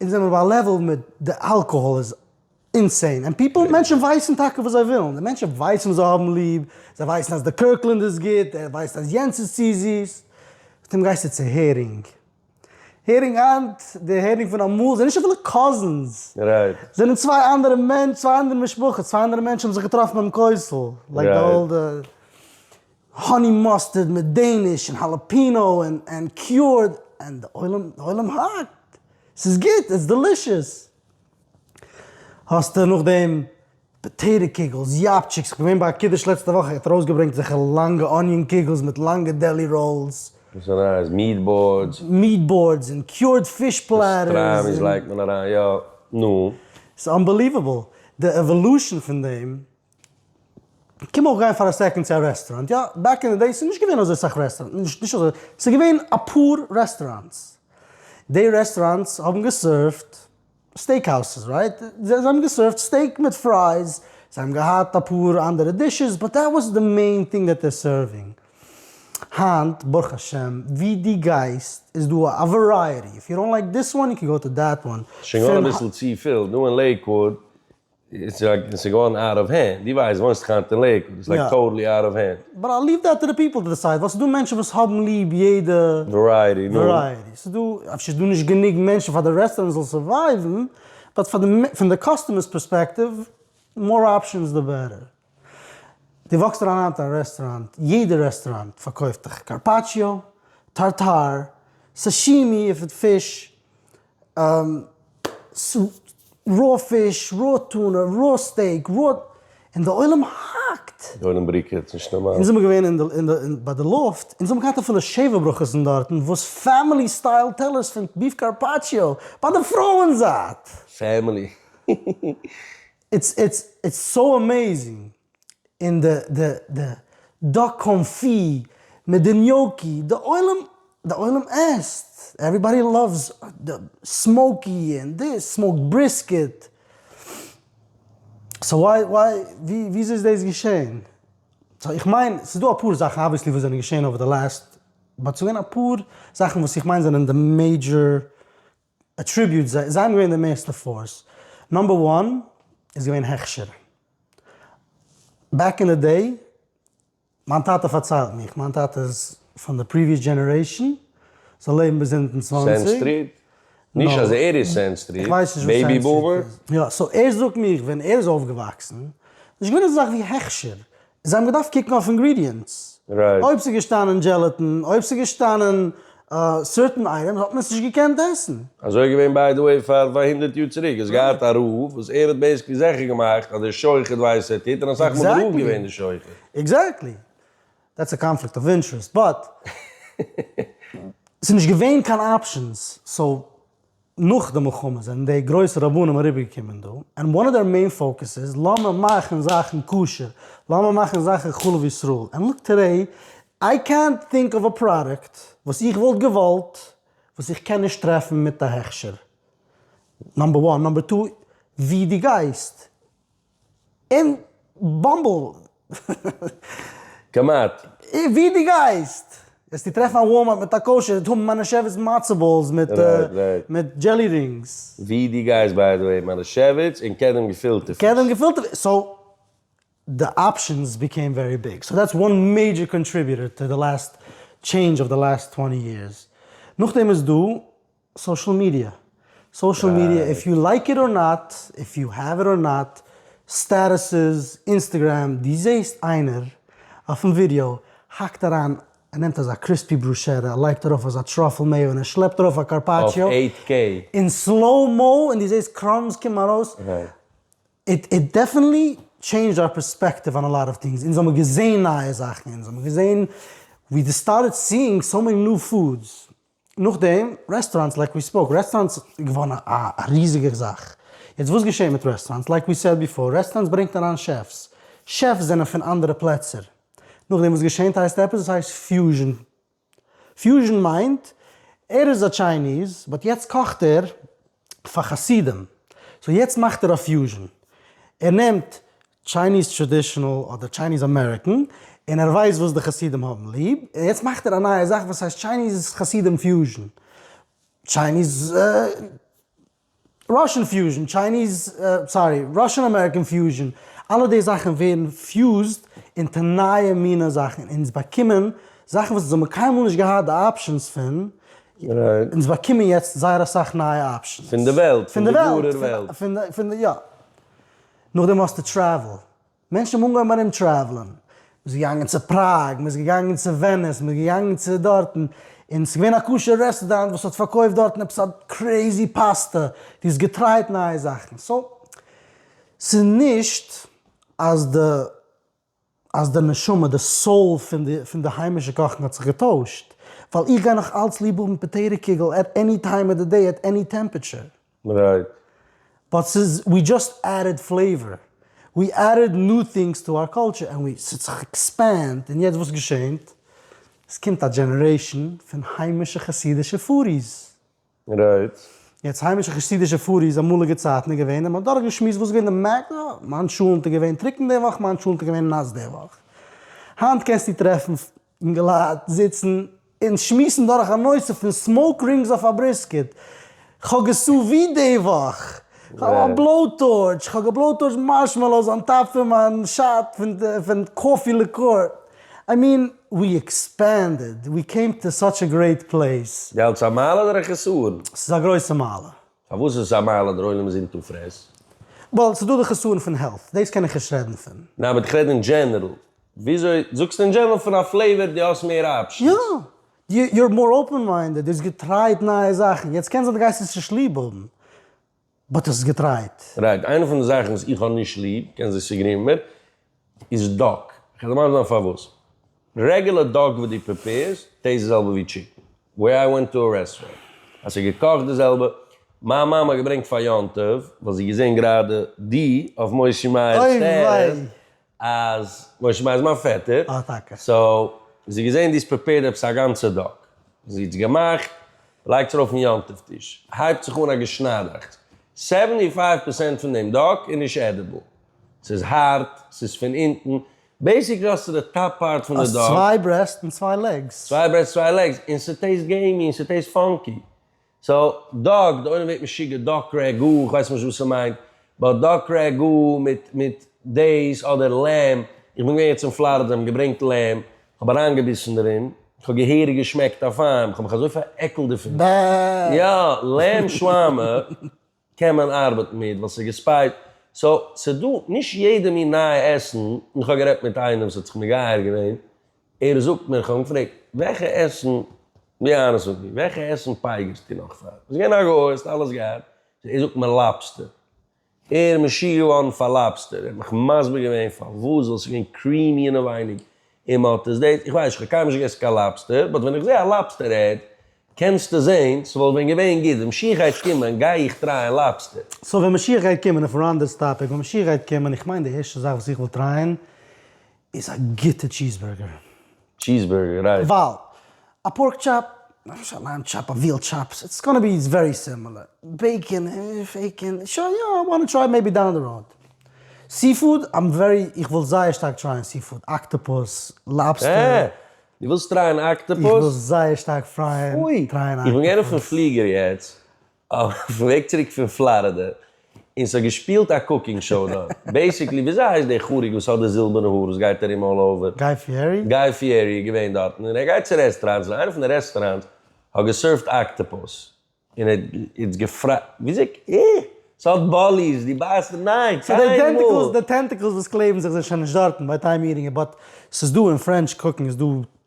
אונז זעמער ביי א לעוועל וואו די אלקאהאל איז אינסיין, און פיפל, מענטשן ווייסן טאקע וואס זיי ווילן, די מענטשן ווייסן וואס זיי האבן ליב, זיי ווייסן אז די קירקלענד איז גוט, ער ווייסט אז יענץ איז צו זיס, פתאום גייסטו צו הערינג, הערינג היינט, די הערינג פון אמאל זענען נישט אפילו קאזינס, זענען צוויי אנדערע מענטשן, צוויי אנדערע משפחות, צוויי אנדערע מענטשן האבן זיך געטראפן ביים כותל, לייק די אולדע. האני מאסטערד מיט דעיניש און האלעפינא און קיורד און די עולם די עולם האקט ס'איז גוט איטס דעלישעס. האסטו נאכדעם פאטעיטא קוגלס, יאפטשיקס, כ'בין געווען ביי א קידוש לעצטע וואך ער האט ארויסגעברענגט אזעלכע לאנגע אניאן קוגלס מיט לאנגע דעלי ראלס. וואס איז אריין איז מיעט באורדס. מיעט באורדס און קיורד פיש פלעטערס. פאסטרעמיס לייגט מען אריין יא נו. ס'אנבעליוועבל די עוואלושען פון דעם. קען מען אויך גיין פאר א סעקאנד צו א רעסטוראנט יא? בעק אין די דעיס איז נישט געווען אזוי סאך רעסטוראנט נישט נישט אזוי ס'איז געווען אפאר רעסטוראנטס די רעסטוראנטס האבן געסערווט סטעיק האוזעס רייט? זיי האבן געסערווט סטעיק מיט פרייס זיי האבן געהאט אפאר אנדערע דישעס באט דעט וואס די מעין טינג דעט דער סערווינג היינט ברוך השם ווי די גייסט איז דא א ווערייעטי איף יו דאנט לייק דיס וואן יו קען גאו טו דעט וואן. ס'שוין געווארן אביסל צופיל דא אין לעיקוואוד, איז איז געווארן אוט אוו הענד, דו ווייסט וואוינסט דאך היינט אין לעיקוואד, איז לייק טאטעלי אוט אוו הענד. באט איי ליוו דעט טו די פיפל טו דיסייד, ווייל ס'איז דא מענטשן וואס האבן ליב יעדע ווערייעטי, נו? ווערייעטי, ס'איז דא, אפשר איז דא נישט גענוג מענטשן פאר די רעסטוראנט זאל סורווייוון, באט פאר די, פון די קאסטומער'ס פערספעקטיוו, מאר אפשענס די בעטער. דו וואקסט אריין היינט אין א רעסטוראנט, יעדע רעסטוראנט פארקויפט דיך קארפאטשיאו, טארטאר, סאשימי איף איט פיש, רא פיש, רא טונא, רא סטעיק, רא, און די עולם האקט! די עולם בריקעט, ס'איז נישט נארמאל. אונז זעמיר געווען אין די, אין די, אין, ביי די לופט, אונז האבן געהאט אפילו שבע ברכות אין דארטן, וואס פעמילי סטייל טעלערס פון ביף קארפאטשיאו, ביי די פרויען זייט! פעמילי. איטס, איטס, איטס סאו עמעיזינג! און די די די דאק קאנפי מיט די ניאוקי, די עולם די עולם עסט, עוועריבאדי לאווס די סמאוקי און דאס, סמאוקד בריסקעט, סאו וויי וויי וויאזוי איז דאס געשען? סאו איך מיין ס'איז דא אפאר זאכן אבוויעסלי וואס זענען געשען אווער די לאסט באט ס'געווען אפאר זאכן וואס איך מיין זענען די מעידזשער עטריביוטס, זיי האבן געווען די מערסטע פארס. נאמבער וואן איז געווען הכשר. בעק אין די דעי, מיין טאטע פארציילט מיך, מיין טאטע איז פון די פריוויעס דזשענערעישאן, זיי לעבן ביז אונטן צוואנציג. נישט אז ער איז סענד סטריט, בעיבי בומער. יא, סאו ער זאגט מיך ווען ער איז אויפגעוואקסן, נישט געווען אזא זאך ווי הכשר. זיי האבן געדארפט קוקן אויף אינגרידיענטס, אויב ס'איז געשטאנען דזשעלעטין, אויב ס'איז געשטאנען סערטען אייטעמס האט מען עס נישט געקענט עסן. אזוי געווען ביי די וועי פאר פאר הונדערט יאר צוריק, האסט געהאט א רב וואס ער האט בעיסקלי זעכער געמאכט אז דער שוחט ווייסט וואס ער טוט און אסאך מאל איז דער רב געווען דער שוחט. עקזעקטלי. דעטס א קאנפליקט אוו אינטערעסט באט ס'איז נישט געווען קיין אפשענס סאו. נאך די מלחמה זענען די גרויסע רבנים אריבערגעקומען דא, ענד וואן אוו דעיר מעין פאוקעס איז לאמיר מאכן זאכן כשר, לאמיר מאכן זאכן חלב ישראל, ענד לוק טודעי, איי קענט טינק אוו א פראדוקט וואס איך וואלט געוואלט וואס איך קען נישט טרעפן מיט א הכשר, נאמבער וואן, נאמבער טו, ווי דו גייסט. אין באמבל. כמעט. ווי די גייסט וועסטו טרעפן א וואלמארט מיט א קאושער טאון מאנעשעוויץ מצה באלס מיט דזשעלי רינגס. ווי די גייסט ביי די וועי מאנעשעוויץ און קדם געפילטע פיש. קדם געפילטע פיש, סאו די אפשענס ביקעים ווערי ביג, סאו דעטס וואן מעידזשער קאנטריביוטער טו די לאסט טשעינדזש אוו די לאסט טווענטי יערס. נאכדעם איז דא סאושעל מידיע, סאושעל מידיע איף יו לייק איט אר נאט, איף יו העוו איט אר נאט, סטעטוסעס, אינסטעגרעם, דו זעהסט איינער אויפן ווידיאו האקט אריין, ער נעמט אזא קריספי בראשערע, ער לייגט ארויף אזא טראפל מעיאו און ער שלעפט ארויף א קארפאטשיאו אין סלאו מאו און דו זעהסט קראמס קומען ארויס, איט דעפענטלי טשעינדזשד אווער פערספעקטיוו אן א לאט אוו טינגס, אונז האבן געזעהן נייע זאכן, אונז האבן געזעהן, ווי די סטארטעד סיאינג סאו מעני ניו פודס, נאכדעם רעסטאראנטס, לייק ווי ספאוק, רעסטאראנטס איז געווארן א ריזיגער זאך, יעצט וואס געשעהט מיט רעסטאראנטס, לייק ווי סעד ביפאר, רעסטאראנטס ברענגט אריין שעפס, שעפס זענען פון אנדערע פלעצער, נאכדעם וואס געשענט הייסט עפעס, עס הייסט פיוזשען, פיוזשען מיינט ער איז א טשייניז באט יעצט קאכט ער פאר חסידים, סאו יעצט מאכט ער א פיוזשען, ער נעמט טשייניז טראדישענעל אדער טשייניז אמעריקען, און ער ווייסט וואס די חסידים האבן ליב, און יעצט מאכט ער א נייע זאך וואס הייסט טשייניז חסידים פיוזשען, טשייניז ראשען פיוזשען, טשייניז סארי ראשען אמעריקען פיוזשען, אלע די זאכן ווערן פיוזד אונטער נייע מינע זאכן, אונז באקומען זאכן וואס אונז האבן קיינמאל נישט געהאט די אפשענס פון, אונז באקומען יעצט זייער אסאך נייע אפשענס. פון די וועלט, פון די ווארער וועלט. נאכדעם האסטו טרעוול. מענטשן האבן אנגעהויבן ארום טרעוולען. מ'איז געגאנגען צו פראג, מ'איז געגאנגען צו וועניס, מ'איז געגאנגען צו דארטן, און ס'איז געווען א כשר רעסטוראנט וואס האט פארקויפט דארטן עפעס א קרעיזי פאסטע, דו האסט געטרייט נייע זאכן. סאו, ס'איז נישט אז די. אז די נשמה, די סאול פון די היימישע קאכן האט זיך געטוישט, ווייל איך גיי נאך אלץ ליב האבן פאטעיטא קיגל עט עני טיים אוו די דעי עט עני טעמפעטשער. רייט. באט ס'איז ווי דזשאסט עדד פלעיווער, ווי עדד ניו טינגס טו אר קולטשער ענד ווי ס'האט זיך עקספענד, און יעצט וואס געשענט? ס'קומט א דזשענערעישאן פון היימישע חסידישע פארי'ס. רייט. יעצט היימישע חסידישע פארי'ס אמאליגע צייטן איז געווען און מ'האט דורך געשמועסט וואס איז געווען די מעקס, אה, מיין טשולענט איז געווען טרוקן די וואך, מיין טשולענט איז געווען נאס די וואך. היינט קענסטו טרעפן אינגעלייט זיצן און שמועסן דורך א נושא פון סמאוק רינגס אויף א בריסקעט, כ'האב געסאווי די וואך, כ'האב א בלאו-טארטש, כ'האב געבלאו-טארטשט מארשמעלאוס אן טאפ פון מיין שאט פון קאפי ליקור, איי מין ווי עקספענדעד, ווי קעים טו סאטש א גרעיט פלעיס. געלט איז א מעלה אדער א חסרון? ס'איז א גרויסע מעלה. פארוואס איז עס א מעלה? דער עולם איז אינטו פרעס. ווייל ס'איז דא די חסרון פון העלט, דאס קען איך נישט רעדן פון. ניין אבער איך רעד אין דזשענערל. וויאזוי? זאגסט אין דזשענערל פון א פלעיווער דו האסט מער אפשענס. יא, יו אר מאר אפען מיינדעד, דו האסט געטרייט נייע זאכן, יעצט קען זיין דו גייסט עס נישט ליב האבן. באט עס איז געטרייט. רייט, איינע פון די זאכן וואס איך האב נישט ליב, קען זיין ס'גרינג מיר, איז דאק. כ'על דיר מסביר זיין פארוואס. רעגולער דאק וואס דו פריפעירסט, טעיסט די זעלבע ווי טשיקן. ווער איי ווענט טו א רעסטוראנט, אז ס'איז געקאכט די זעלבע. מיין מאמע האט געברענגט פאר יום טוב, ווייל זי האט געזען גראדע די אויף משה מאיר'ס טערעס. אוי וויי. אז משה מאיר איז מיין פעטער. אה טאקע. סאו זי האט געזען די איז פריפעירד עפעס א גאנצע דאק. זי האט עס געמאכט, לייגט עס ארויף אין יום טוב טיש. הייבט זיך אן א געשניידעכטס. סעווענטי פייוו פערסענט פון דעם דאק איז נישט עדיבל. ס'איז הארט, ס'איז פון אונטן. בעיסיקלי האסטו די טאפ פארט פון די דאק. האסט צוויי ברעסט און צוויי לעגס. צוויי ברעסט צוויי לעגס. און ס'טעיסט געימי און ס'טעיסט פאנקי. סא דאג, די עולם ווערט משוגע, דאק רע ג, איך ווייס נישט וואס ס'מיינט, באט דאק רע ג מיט מיט דעיס אדער לעם, איך בין געווען יעצט אין פלארידע זיי האבן געברענגט לעם, כ'האב אריינגעביסן דערין, כ'האב געהעריג געשמעקט אויף איין, כ'האב מיך אזוי פארעקלט דערפון, ב ה. יא, לעם שוואמער, קען מען ארבעטן מיט ווייל ס'איז געספייט, סא ס'איז דא נישט יעדע מין נייע עסן, און איך האב גערעדט מיט איינעם ס'האט זיך מגייר געווען, ער זאגט מיר, איך האב אים געפרעגט, וועלכע עסן, ווי אהרן זאגט דיר, וועלכע עסן פייגערסטו נאך פאר, ביסט געווען א גוי האסט אלעס געהאט, ער זאגט מיר לאבסטער, ער משוגע געווארן פאר לאבסטער, ער האט מיך מסביר געווען פארוואס, ווייל ס'איז געווען קרימי אינעווייניג, און מען האט עס דאס, איך ווייס נישט, איך האב קיינמאל נישט געגעסן קיין לאבסטער, באט ווען איך זעה א לאבסטער עד, קענסטו זעהן, ס'וואלט ווען געווען גוט, ווען משיח גייט קומען גיי איך טרייען לאבסטער. סאו ווען משיח גייט קומען, אויפן ראנדע'ס טאפיק, ווען משיח גייט קומען, איך מיין די ערשטע זאך וואס איך וועל טרייען איז א גוטע טשיז בורגער. טשיז בורגער, רייט. ווייל א פארק טשאפ, נישט א לאם טשאפ, א וויל טשאפ, סאיטס גאנא בי ווערי סימילער. בעיקען, פעיקען, שוין יא, איי וואנט טו טריי מעיבי דאון דע ראוד. סי פוד, איים ווערי, איך וויל זייער שטארק טרייען סי פוד, אקטאפוס, לאבסטער. אה! דו ווילסט טרייען אקטאפוס? איך וויל זייער שטארק פרייען טרייען אקטאפוס. פוי! איך בין געוען אויפן פליגער יעצט. אויפן וועג צוריק פון פלארידע, און ס'האט געשפילט א קוקינג שאו דארט. בעיסיקלי, וויאזוי הייסט דער חריג וואס האט די זילבערנע האר וואס גייט ארום אלל אווער? גיי פיערי? גיי פיערי איז געווען דארטן, און ער גייט צו רעסטעראנטס, און איינע פון די רעסטעראנטס האט געסערווט אקטאפוס, און ער איז געפרייט, וויאזוי ק, אה! ס'האט באליס, דו בייסט נישט, ניין, סאו די קיינמאל! טענטיקלס, די טענטיקלס וואס קלעבן זיך זענען שוין נישט דארטן ביי טיים איטינג, באט ס'איז דא אין פרענטש קוקינג איז דא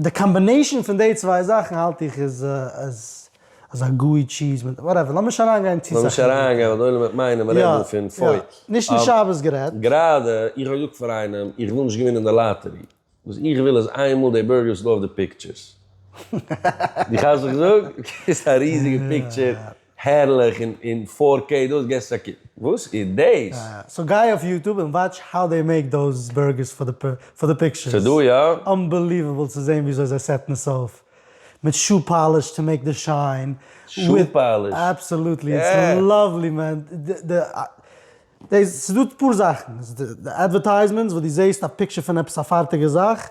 די קאמבינעישאן פון די צוויי זאכן האלט איך איז אזא גוי טשיז מיט וואטעווער, לאמיר נישט אריינגיין צו סאך. לאמיר נישט אריינגיין ווייל די עולם וועט מיינען מען רעדט דא פון פוי. נישט אין שבת גערעדט. גראדע, איך האב געזאגט פאר איינעם איך וויל נישט געווינען די לאטערי, וואס איך וויל איז איין מאל די בורגערס לויף די פיקטשערס. די כאפסט וואס איך זאג? ס'איז א ריזיגע פיקטשער הערליך און אין פאר קעי דאס געסט א קוק. וואס איז דאס? סאו גיי אויף יוטוב און וואטש האו דעי מעיק דאוז בורגערס פאר די פאר די פיקטשערס. ס'איז דא יא? אנבעליוועבל צו זעהן וויאזוי זיי סעטן עס אויף מיט שו פאליש טו מעיק די שיין. שו פאליש? אבסאלוטלי איטס לאוועלי מען. ס'איז דא אפאר זאכן. די אדווערטייזמענטס וואס דו זעהסט א פיקטשער פון עפעס א פארטיגע זאך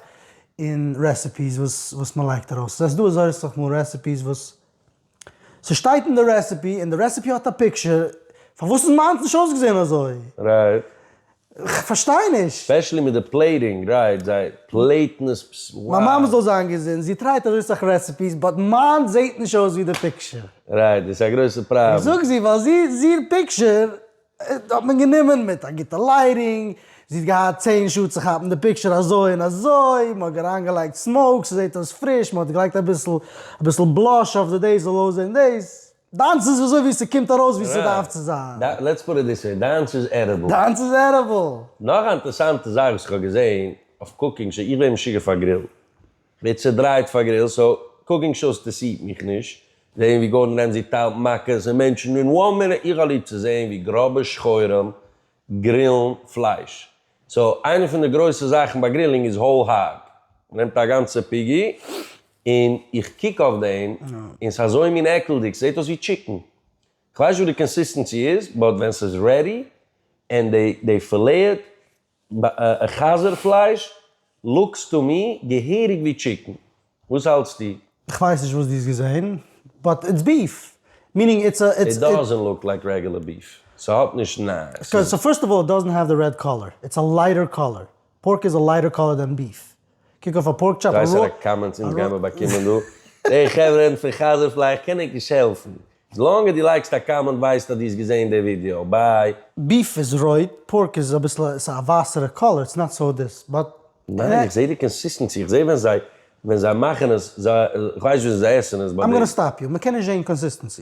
און רעסעפיס וואס מען לייגט ארויס. זעסט דא אזויסעך מאל רעסעפיס וואס. ס'שטייט אין די רעסעפי, און די רעסעפי האט א פיקטשער, פארוואס איז מיינס נישט אויסגעזען אזוי? רייט. כ'פארשטיי נישט. ספעשעלי מיט די פלעיטינג, רייט, זיי פלעיטן עס פס וואו. מיין מאמע זאל זיין געזונט, זי טרייט אזוי סאך רעסעפיס, באט מיינס זעהט נישט אויס ווי די פיקטשער. רייט, דאס איז א גרויסע פראבלעם. איך זאג זי ווייל זי איז איר פיקטשער האט מען גענומען מיט א גוטע לייטינג, זי האט געהאט צען שעה צו כאפן די פיקטשער אזוי און אזוי, מען האט אריינגעלייגט סמאוק ס'זעט אויס פריש, מען האט געלייגט אביסל אביסל בלאש אויף די דעיס זאל אויסזען דעיס, דיינס איז וויאזוי ווי ס'קומט ארויס ווי ס'דארף צו זיין. לעטס פוט איט דיס וועי, דיינס איז עדיבל. דיינס איז עדיבל. נאך א אינטערעסאנטע זאך וואס איך האב געזעהן אויף קוקינג שאו, איך ווער משוגע פאר גרילן. מער צודרייט פאר גריל סאו קוקינג שאוס טעסירט מיך נישט, זעהן ווי גארדען רעמזי טיילט מכות און מענטשן אין וואן מינוט, איך האב ליב צו זעהן ווי גראבע שחורים גרילן פלייש, סאו איינע פון די גרויסע זאכן ביי גרילינג איז האול האג, מ'נעמט א גאנצע פיגי און איך קוק אויף דעם און ס'איז אזוי מין עקלדיג, ס'זעהט אויס ווי טשיקן, כ'ווייס נישט וואס די קאנסיסטענסי איז באט ווען ס'איז רעדי און די פילעט ב ה חזיר פלייש לוקס טו מי געהעריג ווי טשיקן, וואס האלטסטו? כ'ווייס נישט וואס דו האסט געזעהן, באט איטס ביף, מינינג איטס א. איט דאזענט לוק לייק רעגולער ביף, ס'האט נישט נ. ס'איז. סאו פירסט אוו אלל איט דאזענט העוו דע רעד קאלער, איטס א לייטער קאלער, פארק איז א לייטער קאלער דען ביף, קוק אויף א פארק טשארט. דריי סעלעקט קאמענטס אונז גייען מיר באקומען דא. העי חברה פון חזר פלאי איך קען ענק נישט העלפן. איז לאנג אז דו לייקסט א קאמענט ווייזט אז דו האסט געזעהן די ווידיאו. ביי. ביף איז רויט, פארק איז אביסל א ווייסערע קאלער, איטס נאט סאו דיס, באט. ניין איך זעה די קאנסיסטענסי, איך זעה ווען זיי ווען זיי מאכן עס, זיי איך ווייס נישט וויאזוי זיי עסן עס ביי די. איים גאנא סטאפ יו, מ'קען נישט זעהן קאנסיסטענסי.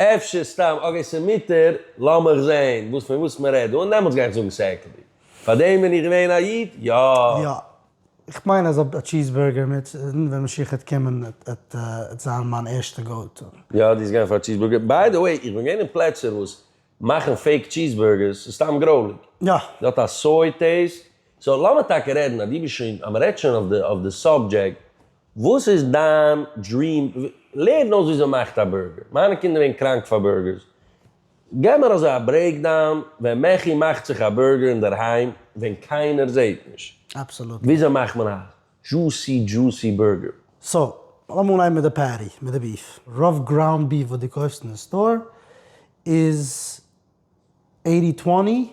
אפשר סתם אגעי ס'מותר, לאמיך זעהן וואס פון וואס מ'רעדט דא און דעמאלטס גיי איך זאגן ס'עקלדיג. פארדעם בין איך געווען א איד? יא! יא. איך מיין אז אויב א טשיז בורגער מיט ווען משיח העט קומען עט זיין מיין ערשטע גאו טו. יא די איז געגאנגען פאר טשיז בורגער. ביי די וועי איך בין געווען אין פלעצער וואס מאכן פעיק טשיז בורגערס ס'איז סתם גרויליג. יא. ס'האט א סוי טעיסט. סאו לאמיר טאקע רעדן אז דו ביסט שוין אז מ'רעדט שוין אויף די סאבדזשעקט וואס איז דיין דריעם? לערן אויס וויאזוי מ'מאכט א בורגער, מיינע קינדער ווערן קראנק פאר בורגערס, געב מיר אזוי א ברעיקדאון ווען מעכי מאכט זיך א בורגער אינדערהיים ווען קיינער זעהט נישט, Absolutely. וויאזוי מאכט מען א דזשוסי דזשוסי בורגער? סא, לאמיר אנהייבן מיט די פעטי, מיט די ביף. רוב גראונד ביף וואס דו קויפסט אין די סטאר איז עיטי טווענטי,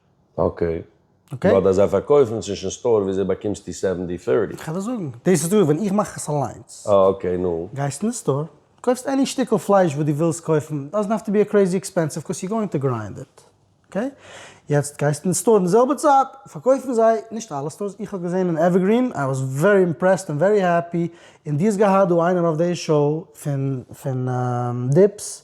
אקעי. באט אז זיי פארקויפן צווישן סטאר וויאזוי באקומסטו סעווענטי פירטי? כ'וועל דיר זאגן. דאס איז דא ווען איך מאך עס אליינס. אה אקעי נו. גייסט אין די סטאר, קויפסט עני שטיקל פלייש וואס דו ווילסט קויפן, דאזענט האוו טו בי קרעזי עקספענסיוו קאוז יו גאוינג טו גריינד איט. אקעי? יעצט גייסט אין סטאר אין די זעלבע צייט פארקויפן זיי, נישט אלע סטארס, איך האב געזען אין עווערגרין, איי וואס ווערי אימפרעסד און ווערי העפי, און דו האסט געהאט דא איינער אויף די שאו פון דיפס,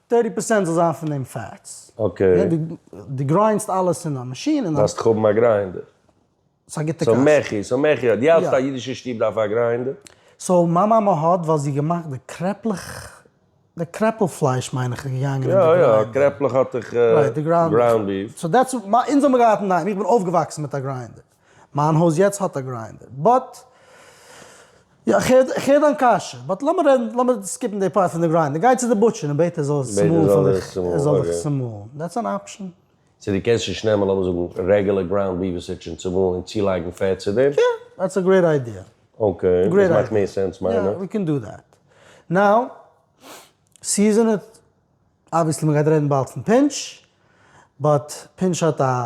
טירטי פערסענט זאל זיין פון דעם פעטס. אקעי. די גריינסט אלעס אין א מאשין און. דארפסט האבן א גריינדער. ס'איז א גוטע קשיא. סאו מעכי, סאו מעכי האט. די האלטסט א אידישע שטוב דארף א גריינדער? סאו מיין מאמע האט ווייל זי געמאכט די קרעפלעך, די קרעפל פלייש מיין איך איז געגאנגען אין די גריינדער. יא יא, קרעפלעך האט דאך גראונד ביף. סאו דעטס, אונז האמיר געהאט אינדערהיים, איך בין אויפגעוואקסן מיט א גריינדער. מיין הויז יעצט האט א גריינדער באט יא איך הער דיין קשיא באט לאמיר רעדן לאמיר סקיפן די פארט פון די גריינדער גיי צו די בוטשער און בעט ער זאל עס צומאלן פאר דיך ער זאל דיך צומאלן דעטס אן אפשען. צו די קענסט נישט נעמען לאמיר זאגן רעגולער גראונד ביף איז ס'טשען צומאלן און צולייגן פעט צו דעם? יא דעטס א גרעיט איידיע. אקעי דאס מאכט מער סענס מיין איך. יא ווי קען דא דעט. נאו סיזענעד אבוויעסלי מ'גייט רעדן באלד פון פינטש באט פינטש האט א.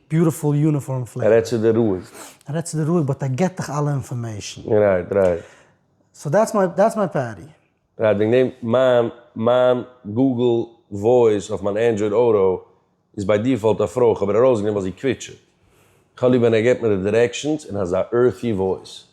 ביוטיפול יוניפארם פליפ. רעד צו דיר רואיג. רעד צו דיר רואיג באט ער געט דיך אלע אינפארמעישן. רייט רייט. סאו דעטס מיי דעטס מיי פעטי. רייט וועגן דעם מיין מיין גוגל וואויס אויף מיין ענדרויד אוטו איז ביי דיפאלט א פרוי כ'האב ער ארויסגענומען ווייל זי קוויטשעט. כ'האב ליב ווען ער געט מיר די דירעקשאנס אין אזא ערטי וואויס.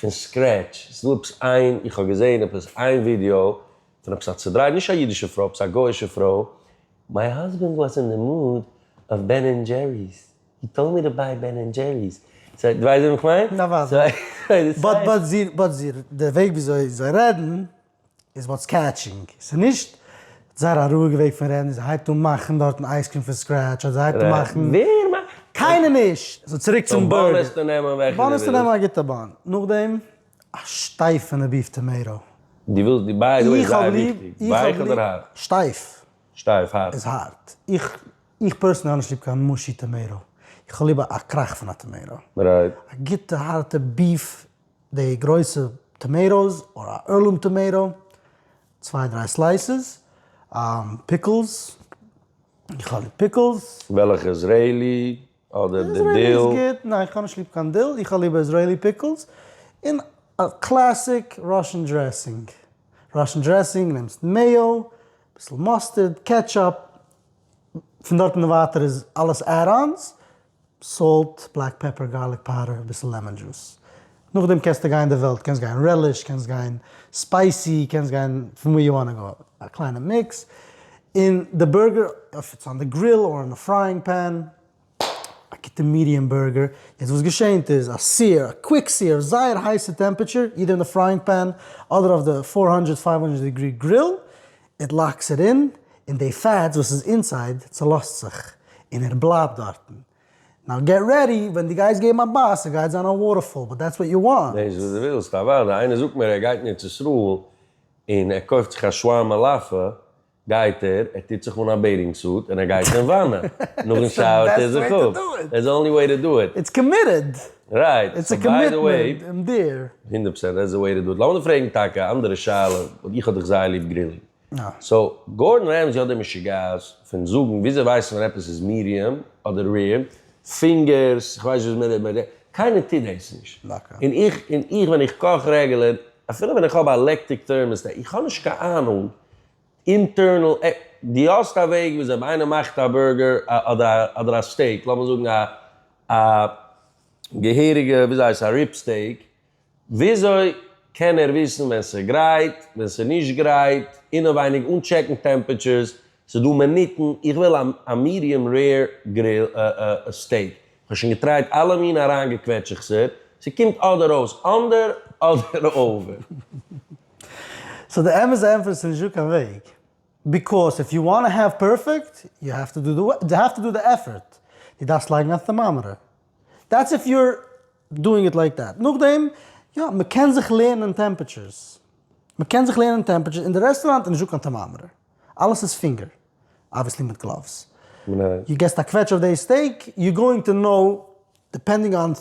פון סקרעטש, ס'לפס איין, איך האב געזעהן עפעס איין ווידיאו פון עפעס א צודרייט, נישט א אידישע פרוי, עפעס א גוי'אישע פרוי, מיי האזבענד וואס אין די מוד אויף בען ענד דזשעריס, הי טאלד מי טו ביי בען ענד דזשעריס, סאו דו ווייסט וועם איך מיין? נאוואדעי, באט באט זי, באט זי, די וועג וויאזוי זיי רעדן. איז וואטס קעטשינג? ס'איז נישט זייער א רואיגע וועג פון רעדן, זי הייבט אן מאכן דארטן אייז קרים פון סקרעטש, אדער זי הייבט אן מאכן. ווער מאכט? קיינער נישט! סאו צוריק צום באן. באן וועסטו נעמען וועלכע דו ווילסט. באן וועסטו נעמען א גוטע באן. נאכדעם א שטייפע נ ביף טאמעיטא. דו ווילסט די בייגעל איז זייער וויכטיג. ווייך אדער הארט? שטייף. שטייף, הארט. איז הארט. איך איך פערסענלי האב נישט ליב קיין מושי טאמעיטא. איך האב ליבער א קראך פון א טאמעיטא. רייט. א גוטע הארטע ביף. די גרויסע טאמעיטאס אדער א ערלום טאמעיטא, צוויי דריי סלייסעס, פיקלס, געכאלירט פיקלס. וועלכע איזרעילי אדער די דיל? איזרעילי איז גוט, ניין איך האב נישט ליב קיין דיל, איך האב ליבער איזרעילי פיקלס, און א קלעסיק ראשען דרעסינג, ראשען דרעסינג נעמסט מעיא, אביסל מאסטערד, קעטשאפ, פון דארט און ווייטער איז אלעס עד אנס. סאלט, בלעק פעפער, גארליק פאודער, אביסל לעמען דזשוס. נאכדעם קענסטו גיין די וועלט, קענסט גיין רעליש, קענסט גיין ספייסי, קענסט גיין פון ווי יו וואנט גא, א קליינע מיקס. און די בורגער, אויב איטס אן די גריל אר אין א פרייאינג פען, א גוטע מידיעם בורגער. יעצט וואס געשענט איז, א סיער, א קוויק סיער אויף זייער הייסע טעמפעטשער, אידער אין די פרייאינג פען, אדער אויף די פֿיר הונדערט פֿינף הונדערט דעגרי גריל, איט לאקס איט אין, און די פעטס וואס איז אינסייד צולאזט זיך, און ער בלייבט דארטן. נאו געט רעדי, ווען דו גייסט געבן א בייס, עס גייט זיין א וואטערפאל, באט דעטס וואט יו וואנט. דאס וואס דו ווילסט, אוודאי, איינער זאגט מיר ער גייט אין ארץ ישראל, און ער קויפט זיך א שווארמע מאלאפע, גייט ער, ער טוט זיך אן א בעיטינג סוט, און ער גייט אין וואנע, נאכן שאוער טוט ער זיך אפ, דעטס די אנלי וועי טו דו איט. איטס קאמיטעד! רייט, סאו ביי די וועי, הונדערט פארסענט דעטס די וועי טו דו איט, לאמיר פרעגן טאקע א אנדערע שאלה, ווייל איך האב דיך זייער ליב גרילינג, סאו גארדאן רעמזי האט די משוגעת פון זאגן וויאזוי ווייסן מיר עפעס איז מיריעם אדער ריעם פינגערס, איך ווייס נישט וויאזוי מען, קיינער טוט דאס נישט, און איך און איך ווען איך קאך רעגולער, אפילו ווען איך האב א לעקטיק טערמאסטעט, איך האב נישט קיין אהנונג אינטערנעל עק. דו האסט א וועג וויאזוי ווען איינער מאכט א בורגער אדער א סטעיק, לאמיר זאגן א א געהעריגע וויאזוי הייסט א ריב סטעיק, וויאזוי קען ער וויסן ווען ס'איז גרייט, ווען ס'איז נישט גרייט, אינעווייניג אן טשעקן טעמפעטשערס, ס'איז דא מינוטן, איך וויל א מידיעם רעיר גריל סטעיק, כ'האב שוין געטרייט אלע מינע אריינגעקוועטשעכסער, ס'קומט אדער אויס אנדער אדער אווער. סאו די אמת די ענטפער איז ס'נישט דא קיין וועג, ביקאוס איף יו וואנט טו העוו פערפעקט יו העוו טו דו די העוו טו דו די עפפערט, דו דארפסט לייגן א טערמאמעטער, דעטס איף יו אר דואינג איט לייק דעט, נאכדעם יא מ'קען זיך לערנען טעמפעטשערס, מ'קען זיך לערנען טעמפעטשערס, אין די רעסטוראנט איז נישט דא קיין טערמאמעטער, אלעס איז פינגער. אבוויעסלי מיט גלאווס, יו געסט א קוועטש אויף די סטעיק, יו גאוינג טו נאו דיפענדינג אן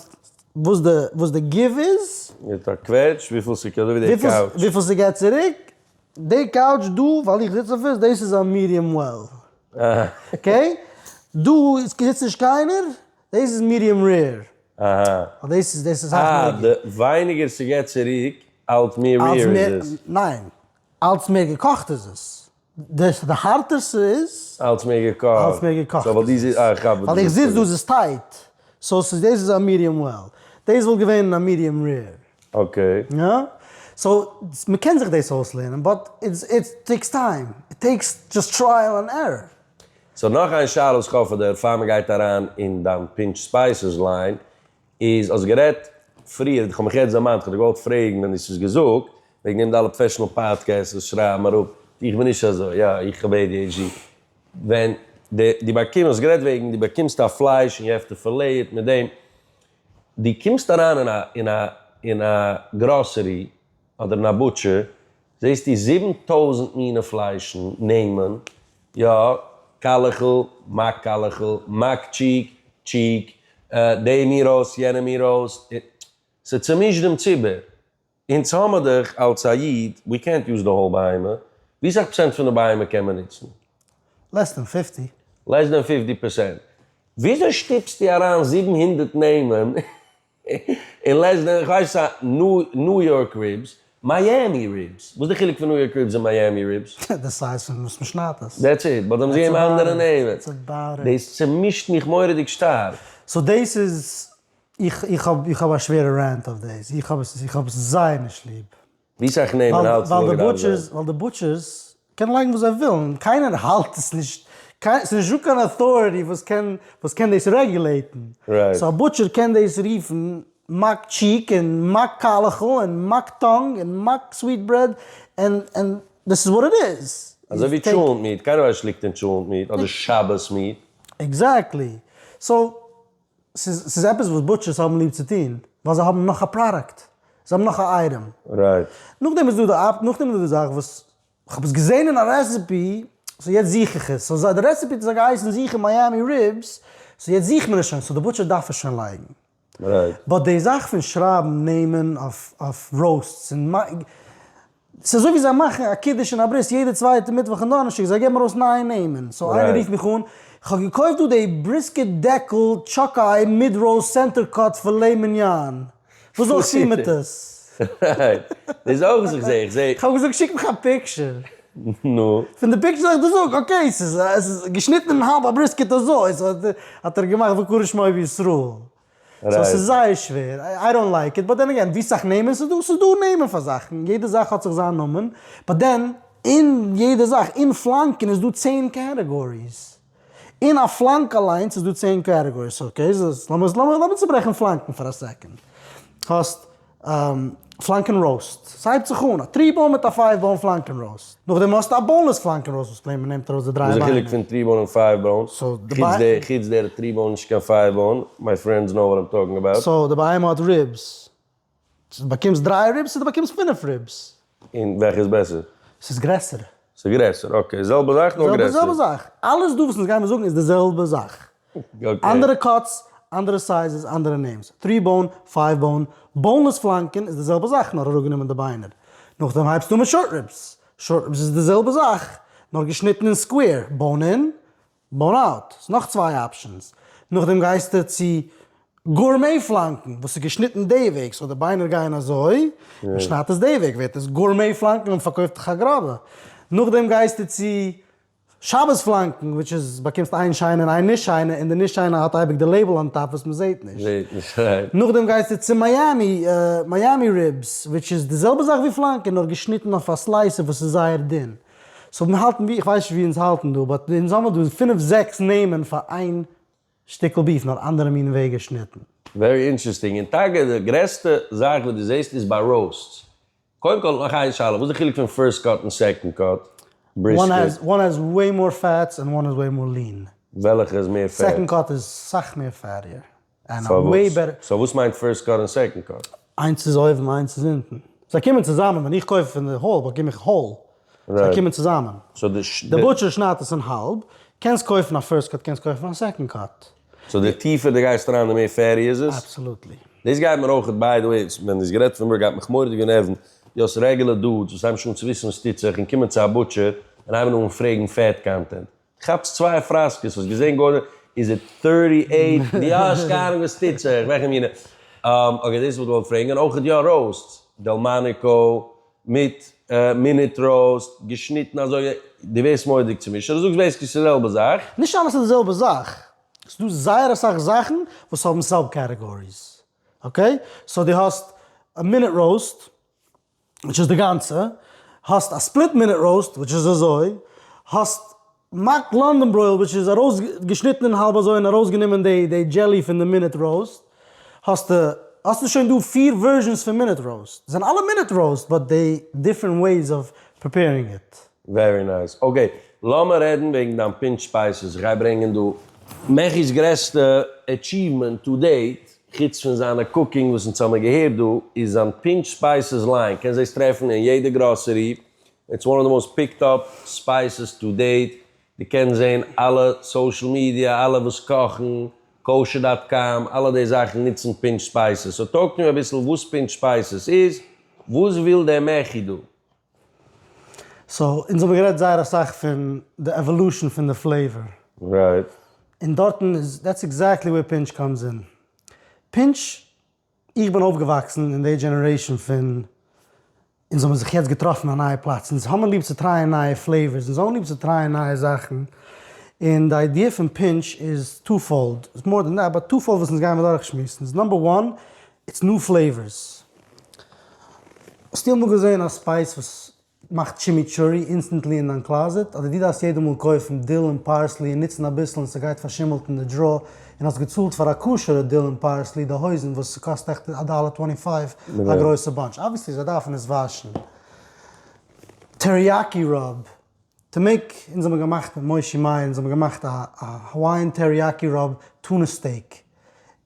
וואס די וואס די גיוו איז, מיט א קוועטש וויפיל ס'קע אזוי ווי די קאוטש, וויפיל ס'געט צוריק, די קאוטש דא ווייל איך זיץ אויף עס, דאס איז א מידיעם וועל, אקעי, דא זיצט נישט קיינער, דאס איז מידיעם רעיר, ווייל דאס איז דאס איז אסאך מער געקאכט. אה, די ווייניגער ס'געט צוריק אלץ מער רעיר איז עס. ניין, אלץ מער געקאכט איז עס. דער הארטער ס'איז. אלץ מער געקאכט. אלץ מער געקאכט איז עס. סאו ווייל דו זיצט, אה איך כאפ וואס דו ווילסט זאגן. ווייל איך זיץ דא, ס'איז טייט. סאו ס'איז, דאס איז א מידיעם וועל. דאס וואלט געווען א מידיעם רעיר. אקעי. יא? סאו, מ'קען זיך דאס אויסלערנען, באט איט טעיקס טיים. איט טעיקס דזשאסט טרייעל ענד ערראר. סאו נאך איין שאלה וואס איך האף פאר דיר, פאר מ'גייט אריין אין דיין פינטש ספייסעס ליין, איז האסט גערעדט פריער, איך האב מיך יעצט דערמאנט, כ'האב דיר געוואלט פרעגן ווען דו האסט עס געזאגט, וועגן דעם די אלע פראפעשענעל פאדקעסט וואס שרייבן אראפ, איך בין נישט אזוי, יא איך האב adhd, ווען די די באקומסט, האסט גערעדט וועגן די באקומסט א פלייש און יו העוו טו פילעי איט מיט דעם, די קומסט אריין אין א אין א אין א גראסערי אדער אין א בוטשער, זעסטו זיבן טויזנט מינע פליישן, נעמען, יא, קאלעכל, מאק קאלעכל, מאק טשיק, טשיק, דעם מיר אויס, יענעם מיר אויס, ס'צומישט דעם ציבור. אונז האמער דאך אלס א איד, ווי קענט יוז די האול בהמה, ווי סאך פראצענט פון די בהמה קען מען נוצן? לעס דען פיפטי. לעס דען פיפטי פערסענט. וויאזוי שטופסטו אריין זיבן הונדערט נעמען? און לעז דען איך ווייס א ניו יארק ריבס, מיאמי ריבס, וואס די חילוק פון ניו יארק ריבס און מיאמי ריבס? די סייז פון וואס מ'שניידט עס. דעטס איט, באט זיי האבן זיך געגעבן אנדערע נעמען. דאס צומישט מיך מורא'דיג שטארק. סאו דאס איז, איך האב א שווערע רענט אויף דאס, איך האב עס זייער נישט ליב. ווי סאך נעמען האלץ מאגן אויף זיי? ווייל די בוטשערס קענען לייגן וואס זיי ווילן, קיינער האלט עס נישט, ס'איז נישט דא קיין אוטאריטי וואס קען וואס קען דאס רעגולעיטן, סאו א בוטשער קען דאס רופן מאק טשיק און מאק קאלעכל און מאק טאנג און מאק סוויט ברעד און און דאס איז וואט איט איז. אזוי ווי טשולענט מיעט, קיינער ווייסט נישט אויב ס'ליגט אין טשולענט מיעט אדער שאבעס מיעט. עקזעקטלי, סאו. ס'איז עפעס וואס בוטשערס האבן ליב צו טון, ווייל זיי האבן נאך א פראדאקט, זיי האבן נאך א אייטעם. נאכדעם איז דא די זאך וואס, כ'האב עס געזען אין א רעסעפי, סאו יעצט זוך איך עס, סאו די רעסעפי האט אזוי געהייסן זוכן מיאמי ריבס, סאו יעצט זוכט מען עס שוין, סאו די בוטשער דארף עס שוין לייגן. באט די זאך פון שרייבן נעמען אויף ראוסטס און ס'איז אזוי ווי זיי מאכן א קידוש און א ברית יעדע צווייטע מיטוואך און דאנערשטאג, זיי געבן ארויס נייע נעמען, סאו איינער רופט מיך אן, איך האב געקויפט דא די בריסקעט דעקל טשאק איי מיד ראוסט סענטער קאט פילעי מיניאן, וואס זאל איך טון מיט עס? דאס אויך זיך זעה איך זעה. כ'האב געזאגט שיק מיך א פיקטשער. נו? פון די פיקטשער האב איך געזאגט אקעי ס'איז געשניטן אין האלב א בריסקעט אזוי, סאו האט ער געמאכט וקרא שמו בישראל. סאו ס'איז זייער שווער, איי דאנט לייק איט, באט דען אגעין ווי סאך נעמען ס'איז דא, ס'איז דא נעמען פאר זאכן, יעדע זאך האט זיך זיין נאמען, באט דען אין יעדע זאך, אין פלאנקען איז דא צען קעטעגאריס, אין א פלאנק אליינס איז דא צען קעטעגאריס, אקעי, לאמיר צוברעכן פלאנקען פאר א סעקאנד, האסט. פלאנקען ראוסט, ס'הייבט זיך אן, א טרי באון מיט א פייוו באון פלאנקען ראוסט, נאכדעם האסטו א באונלעס פלאנקען ראוסט וואס פלעין מ'נעמט ארויס די דריי ביינער. וואס איז די חילוק פון טרי באון און פייוו באון? חוץ דער טרי באון נישט קיין פייוו באון, מיי פרענדס נאו וואט איים טאלקינג אבאוט. סאו די בהמה האט ריבס, צו די באקומסט דריי ריבס צו די באקומסט פינף ריבס, און וועלכע איז בעסער? ס'איז גרעסער. ס'איז גרעסער, אקעי, זעלבע זאך נאר גרעסער. זעלבע זאך, אלעס דא וואס אונז גיימער זאגן איז די זעלבע זאך, אנדערע קאטס, אנדערע סייזעס, אנדערע נעימס, טרי באון, פייוו באון, באונלעס פלאנקען איז די זעלבע זאך נאר אראפגענומען די ביינער, נאכדעם הייבסטו אן מיט שארט ריבס, שארט ריבס איז די זעלבע זאך נאר געשניטן אין סקווער, באון אין, באנאט, ס'איז נאך צוויי אפשענס, נאכדעם גייסטו צו גורמי פלאנקן וואס איז געשניטן די וועג, סאו די ביינער גייען אזוי, מען שניידט עס די וועג ווערט עס גורמי פלאנקן און מען פארקויפט דיך א גראבע, נאכדעם גייסטו צו שבת פלאנקן וויטש איז באקומסט איין שיינע און איין נישט שיינע און די נישט שיינע האט אייביג די לעיבל אן טאפ וואס מען זעט נישט, נאכדעם גייסטו צו מיאמי מיאמי ריבס וויטש איז די זעלבע זאך ווי פלאנקן נאר געשניטן אויף א סלייסער וואס איז זייער דין, סאו מיר האלטן ווי, איך ווייס נישט ווי אונז האלטן דא, באט אונז האמער דא פֿינף זעקס נעמען פאר איין שטיקל ביף, נאר אנדערע מינע וועג געשניטן. ווערי אינטערעסטינג, און טאקע די גרעסטע זאך וואס דו זעסט איז ביי ראוסטס. קודם כל נאך איין שאלה, וואס איז די חילוק פון פירסט קאט און סעקאנד קאט בריסקעט? וואן העז וועי מאר פעטס און וואן איז וועי מאר ליען. וועלכע איז מער פעט? סעקאנד קאט איז סאך מער פעטיער. און א וועבער. סאו וואס מיינט פירסט קאר און סעקאנד קאר? איינס איז אויבן איינס איז אונטן. זיי קומען צוזאמען, ווען איך קויף פון די האל באקום איך האל, זיי קומען צוזאמען. די בוטשער שניידט עס אין האלב, קענסט קויפן א פירסט קאט קענסט קויפן א סעקאנד קאט. סאו די טיפער די גייסט אריין די מער פעטי איז עס? אבסעלוטלי. דאס גייט מיר אויכעט ביי די וועי, ווען דאס גערעדט פון וועבער גייט מיך מורא'דיג גענערוון די האסט רעגולער דודס וואס הייבן שוין אן צו וויסן וואס טוט זיך און קומען צו א בוטשער און הייבן אן פרעגן פעט קאנטענט. כאפסט צוויי פראסקעס וואס געזען גאר נישט איז איט טערטי עיט די האסט קיין אהנונג וואס טוט זיך וועלכע מינע אקעי דאס וואלט געוואלט פרעגן און אויך יא ראוסט דעלמאניקא מיט מינוט ראוסט געשניטן אזוי די ווערסט מוראדיג צומישט אדער זאגסט בעיסיקלי ס'איז די זעלבע זאך? נישט אלעס איז די זעלבע זאך, ס'איז דא זייער אסאך זאכן וואס האבן סאב קעטעגאריס אקעי, סאו די האסט מינוט ראוסט. וויטש איז די גאנצע, האסט א ספליט מינוט ראוסט וויטש איז אזוי, האסט מאק לאנדאן ברויל וויטש איז ארויס געשניטן אין האלב אזוי און ארויס גענומען די די דזשעלי פון די מינוט ראוסט, האסטו האסטו שוין דא פיר ווערזשענס פון מינוט ראוסט, זענען אלע מינוט ראוסט באט די דיפרענט וועיס אוו פריפערינג איט. ווערי נייס. אקעי, לאמער רעדן וועגן דיין פינטש ספייסעס. איך גיי ברענגען דא מעכי'ס גרעסטע עטשיוומענט טו דעיט. חוץ פון זיינע קוקינג וואס אונז האמיר געהערט דא, איז זיין פינטש ספייסעס ליין קענסט דאס טרעפן אין יעדע גראסערי, איטס וואן אוו די מאוסט פיקט אפ ספייסעס טו דעיט, דו קענסט זעהן אלע סאושעל מידיא, אלע וואס קאכן, קאושער דאט קאם, אלע די זאכן נוצן פינטש ספייסעס, סאו טאלק טו מי אביסל וואס פינטש ספייסעס איז, וואס וויל דער מעכי דא? סאו אונז האבן גערעדט זייער אסאך פון די עוואלושען פון די פלעיוואר. רייט. און דארטן איז דעטס עקזעקטלי וועיר פינטש קאמס אין. פינטש, איך בין אויפגעוואקסן אין די דזשענערעישן פון אונז האבן זיך יעצט געטראפן א נייע פלאץ. אונז האבן ליב צו טרייען נייע פלעיווארס, אונז האבן ליב צו טרייען נייע זאכן. און די איידיע פון פינטש איז טו פאלד, איטס מאר דען דעט, באט טו פאלד וואס אונז גייען אדורכשמועסן איז, נאמבער וואן, איטס ניו פלעיווערס. האסטו אמאל געזען א ספייס וואס מאכט טשימיטשורי אינסטענטלי אין דיין קלאזעט? אדער דו דארפסט יעדע מאל קויפן דיל און פארסלי און נוצן אביסל און ס'גייט פארשימלט אין די דראער און האסט געצאלט פאר א כשר'ע דיל און פארסלי די הויזן וואס ס'קאסט עכט א דאלער טווענטי פייוו א גרויסע באנטש אבוויעסלי זיי דארפן עס וואשן טעריאקי ראב טו מעיק אונז האבן געמאכט מיט מושי מאיר אונז האבן געמאכט א האוואיען טעריאקי ראב טונא סטעיק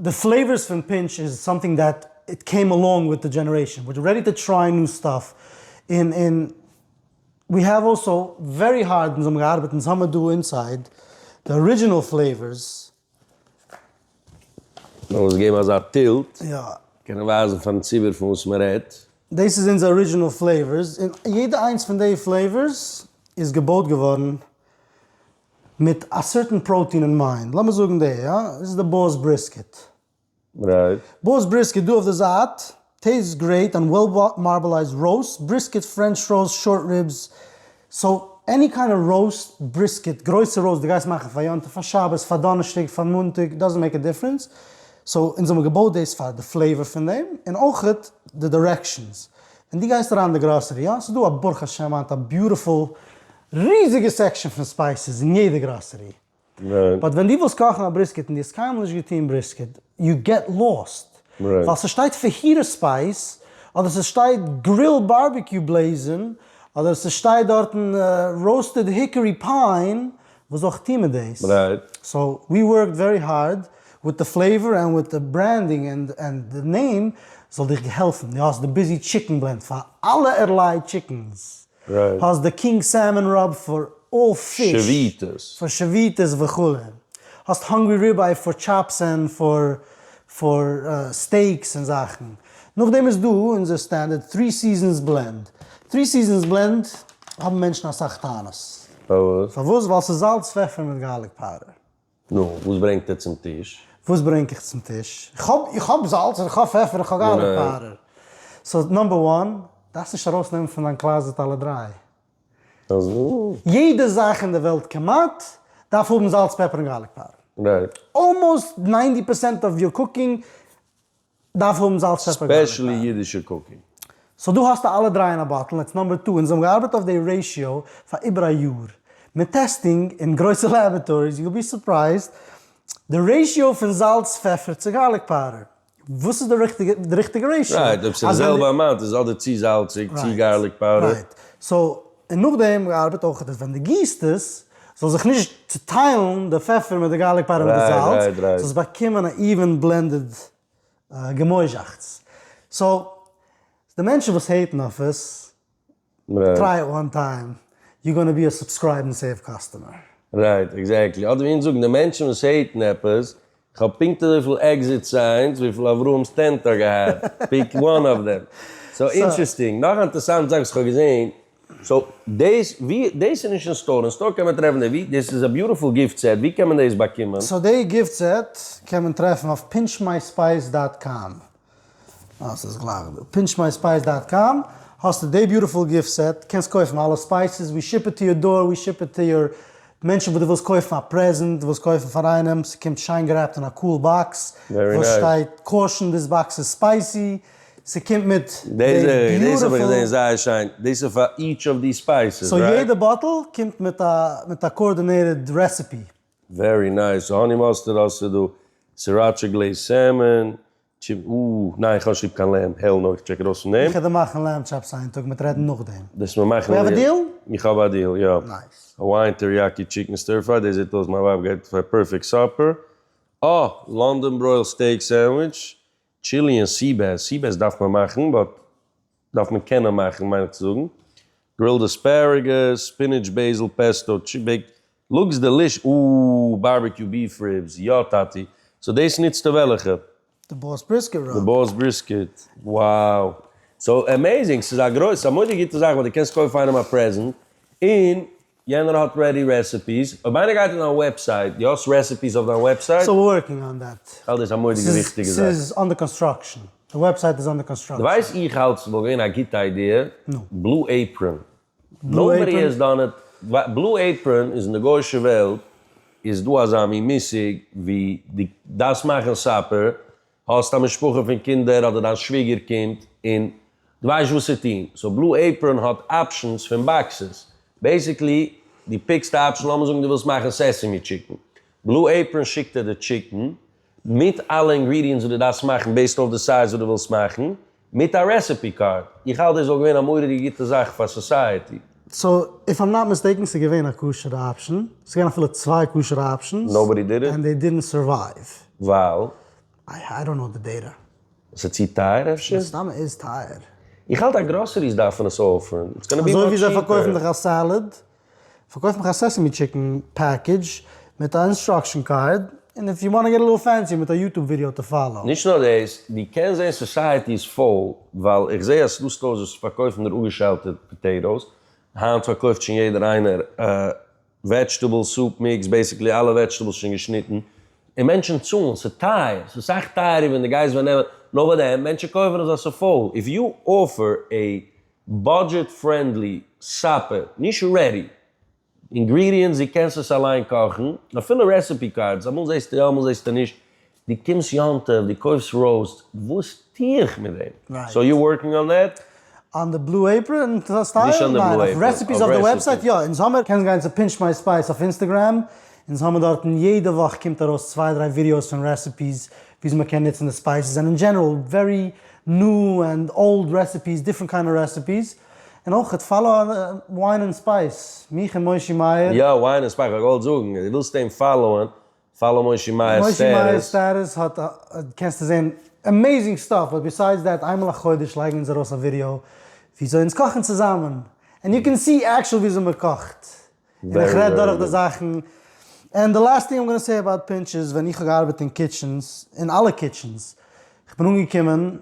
די פלעיווארס פון פינטש איז סאמטינג דעט איט קעים אלאנג וויט די דזשענערעישאן וויטש רעדי טו טריי ניו סטאף און און ווי העוו אלסא ווערי הארד אונז האבן געארבעט אונז האמער דא אינסייד די ארידזשינעל פלעיווארס. לאמיר עס געבן אזא טילט קענען ווייזן פארן ציבור פון וואס מען רעדט. דאס איז אונזער ארידזשינעל פלעיווארס און יעדע איינס פון די פלעיווארס איז געבויט געווארן מיט א סערטען פראוטין אין מיינד, לאמיר זאגן די, יא, דאס איז די בארס בריסקעט. רייט. בארס בריסקעט דא אויף די זייט, טעיסט גרעיט אן וועל מארבעלייזד ראוסט בריסקעט, פרענטש ראוסט, שארט ריבס, סאו עני קיינד אוו ראוסט בריסקעט, גרויסע ראוסט דו גייסט מאכן פאר יום טוב, פאר שבת, פאר דאנערשטאג, פאר מאנטאג, דאזענט מעיק א דיפרענס, סאו אונז האבן געבויט דאס פאר די פלעיוואר פון דעם, און אויכעט די דירעקשאנס, ווען דו גייסט אריין אין די גראסערי, יא, ס'איז דא א ברוך השם היינט א ביוטיפול ריזיגע סעקשאן פון ספייסעס אין יעדע גראסערי. באט ווען דו ווילסט קאכן א בריסקעט און דו האסט קיינמאל נישט געטוען בריסקעט, יו געט לאסט. ווייל ס'שטייט פעהיטע ספייס, אדער ס'שטייט גריל בארביקיו בלעזין, אדער ס'שטייט דארטן ראוסטעד היקערי פיין, וואס זאל איך טוען מיט דאס? סאו ווי ווארקד ווערי הארד וויט די פלעיווער און וויט די ברענדינג און די נעים, ס'זאל דיך העלפן. דו האסט די ביזי טשיקן בלענד פאר אלע ערליי טשיקנס. האסט די קינג סעלמאן ראב פאר אלל פיש פאר שביתות וכו', האסט האנגרי ריבעי פאר טשאפס און פאר פאר סטעיקס און זאכן, נאכדעם איז דא אונזער סטענדערט טרי סיזענס בלענד, טרי סיזענס בלענד האבן מענטשן אסאך טענות, פארוואס? ווייל ס'איז זאלץ פעפער מיט גארליק פאודער. נו, וואס ברענגט ער צום טיש? וואס ברענג איך צום טיש? איך האב, איך האב זאלץ און איך האב פעפער און איך האב גארליק פאודער. סאו נאמבער וואן, דארפסט נישט ארויסנעמען פון דיין קלאזעט אלע דריי. אזוי? יעדע זאך אין די וועלט כמעט, דארף האבן זאלץ, פעפער און גארליק פאודער. רייט. אלמאוסט ניינטי פערסענט אוו יור קוקינג. דארף האבן זאלץ פעפער גארליק אייער. ספעשעלי אידישע קוקינג. סאו דא האסטו אלע דריי אין א באטל און עטס נאמבער טו, אונז האבן געארבעט אויף די רעישיאו פאר איבער א יאר, מיט טעסטינג אין גרויסע לעבעטאריס, יו וויל בי סורפרייזד די רעישיאו פון זאלץ פעפער צו גארליק פאודער, וואס איז די ריכטיגע די ריכטיגע רעישיאו. רייט, אויב ס'איז די זעלבע אמאונט איז אדער צו זאלציג צו גארליק פאודער. רייט, סאו. און נאכדעם געארבעט אויך דאס ווען די גיסט עס זאל זיך נישט צוטיילן די פעפער מיט די גארליק פאודער מיט די זאלץ סאו עס באקומען א איווען בלענדעד געמויזשאכץ סאו די מענטשן וואס העיטן אויף עס טריי איט וואן טיים יו גאנע בי א סובסקרייב און סעיוו קאסטומער. רייט, עקזעקטלי. אדער ווי אונז זאגן, די מענטשן וואס העיטן עפעס, כ'האב פונקט אזויפיל עקזיט סיינס וויפיל אברהם סטענט האט געהאט, פיק וואן אוו דעם. סאו אינטרעסטינג. נאך א אינטערסאנט זאך וואס כ'האב געזען. סאו דאס ווי דאס איז נישט אין סטאר, אין סטאר קען מען טרעפן דעי ווי, דאס איז א ביוטיפול גיפט סעט, ווי קען מען דאס באקומען? סאו דעי גיפט סעט קען מען טרעפן אויף פינטשמייספייס דאט קאם. אז ס'איז גלייך דא. פינטש מיי ספייס דאט קאם, האסטו די ביוטיפול גיפט סעט, קענסט קויפן אלע ספייסעס, ווי שיפ איט טו יור דאר, ווי שיפ איט טו יור מענטשן וואס דו ווילסט קויפן א פרעזענט, ווילסט קויפן פאר איינעם, ס'קומט שיין גערעפט אין א קאול באקס, וואס שטייט קאושן דיס באקס איז ספייסי, ס'קומט מיט די ביוטיפול. סאו יעדע באטל קומט מיט א קארדינעיטעד רעסעפי. ווערי נייס, האני מאסטערד האסטו דא, סיראטשע גלעיז סעמען, טשיפ, אוו, ניין איך האב נישט ליב קיין לעמב, העל נאו, איך טשעק ארויס פון דעם. איך וועל דיר מאכן לעמב טשאפס איין טאג מיט רעדן נאכדעם. דאס מיר מאכן. ווי האב א דיעל? איך האב א דיעל, יא. נייס. האוואיען טעריאקי טשיקן סטיר פריי, דאס זעט אויס מיין ווייב גייט פאר פערפעקט סאפער. אה! לאנדאן ברויל סטעיק סענדוויטש, טשיליען סי בעס, סי בעס דארף מען מאכן, באט דארף מען קענען מאכן מיין איך צו זאגן, גרילד אספערעגוס, ספינעטש בעיזיל פעסטאו, טשי בעיקט, לוקס דעליש, אאוו, בארבעקיו ביעף ריבס, יא טאטי, סאו דאס נוצטו וועלעכע? די באס בריסקעט ראב. די באס בריסקעט, wow, סאו עמעזינג, ס'איז א גרויס, ס'איז א מודי גוטע זאך ווייל די קענסט קויפן איינעם א פרעזענט, און יענער האט רעדי רעסעפיס. אויב איינער גייט אין דיין וועבסייט, די האסט רעסעפיס אויף דיין וועבסייט? סטיל ווארקינג אן דעט. כ'האלט דאס א מורא'דיגע וויכטיגע זאך. ס'איז אנדער קאנסטראקשען. די וועבסייט איז אנדער קאנסטראקשען. די ווייסט איך האלט ס'וואלט געווען א גוטע איידיע. נו. בלו עיפראן. בלו עיפראן? נאובאדי העז דאן איט. בלו עיפראן איז אין די גוישע וועלט איז דא אזא מין מושג ווי די דארפסט מאכן סאפער האסט א משפחה פון קינדער אדער דיין שוויגער קומט און דו ווייסט וואס צו טון, סאו בלו עיפראן האט אפשענס פון באקסעס, בעיסיקלי דו פיקסט א אפשען, לאמיר זאגן דו ווילסט מאכן סעסעמי טשיקן, בלו עיפראן שיקט דיר די טשיקן מיט אלע אינגרידיענטס וואס דו דארפסט מאכן בעיסד אויף די סייז וואס דו ווילסט מאכן, מיט א רעסעפי קארד. איך האלט דאס וואלט געווען א מורא'דיגע גוטע זאך פאר סאסייעטי. סאו איף איים נאט מיסטעיקן ס'איז געווען א כשר'ע אפשען, ס'איז געווען אפילו צוויי כשר'ע אפשענס, נאובאדי דיד איט? ענד דעי דידנט סורווייוו. ווייל? איי איי דאנט נאו די דעטע. ס'איז צו טייער אפשר? מן הסתם איז טייער. איך האלט אז גראסעריס דארפן עס אפערן, איטס גאנא בי מאטש טשיפער. אזוי ווי זיי פארקויפן דיך א סעלעד פארקויף מיך א סעסעמי טשיקן פעקעדזש מיט א אינסטראקשן קארד, און איף יו וואנט געט א ליטל פענסי מיט א יוטוב ווידיא טו פאלאו. נישט נאר דאס, דו קענסט זען סאסייעטי איז פול, ווייל איך זעה אז ס'דא סטארס וואס פארקויפן נאר אפגעשיילטע פאטעיטאס, היינט פארקויפט שוין יעדער איינער וועדזשטעבל סופ מיקס, בעסיקלי אלע וועדזשטעבלס שוין געשניטן, און מענטשן צאלן, ס'איז טייער, ס'איז סאך טייערער ווען דו גייסט ווען נעמען, נאר פאר דעם, מענטשן קויפן עס ווייל ס'איז פול, איף יו אפער עי בודזשעט פרענדלי סאפער, נישט רעדי אינגרידיענטס, דו קענסט עס אליין קאכן, אפילו רעסעפי קארדס, אמאל זעסטו יא אמאל זעסטו נישט, דו קומסט יום טוב דו קויפסט ראוסט, וואס טו איך מיט דעם? סאו יו ווארקינג אן דעט? אן די בלו עיפראן סטייל? ניין, אויף רעסעפיס אויף די וועבסייט יא, אונז האמער, קענסט גיין צו פינטש מיי ספייס אויף אינסטעגרעם, אונז האמער דארטן יעדע וואך קומט ארויס צוויי דריי ווידיאוס פון רעסעפיס וויאזוי מ'קען נוצן די ספייסעס זענען אין דזשענעראל ווערי ניו ענד אולד רעסעפיס, דיפרענט קיינע אוו רעסעפיס, און אויך פאלא וויין און ספייס, מיך און מושי מאיר. יא, וויין און ספייס, כ'וואלט געוואלט זאגן, אז דו ווילסט אים פאלאוען, פאלא מושי מאיר'ס סטעטוס. מושי מאיר'ס סטעטוס האט, קענסטו זען עמעיזינג סטאף, באט ביסיידס דעט, איינמאל א חודש לייגן אונז ארויס א ווידיאו וויאזוי אונז קאכן צוזאמען, ענד יו קען סי עקשועל וויאזוי מ'קאכט, און איך רעד דורך די זאכן. ענד די לאסט טינג איים גאנא סעי אבאוט פינטש איז ווען איך האב געארבעט אין קיטשענס, אין אלע קיטשענס, איך בין אנגעקומען,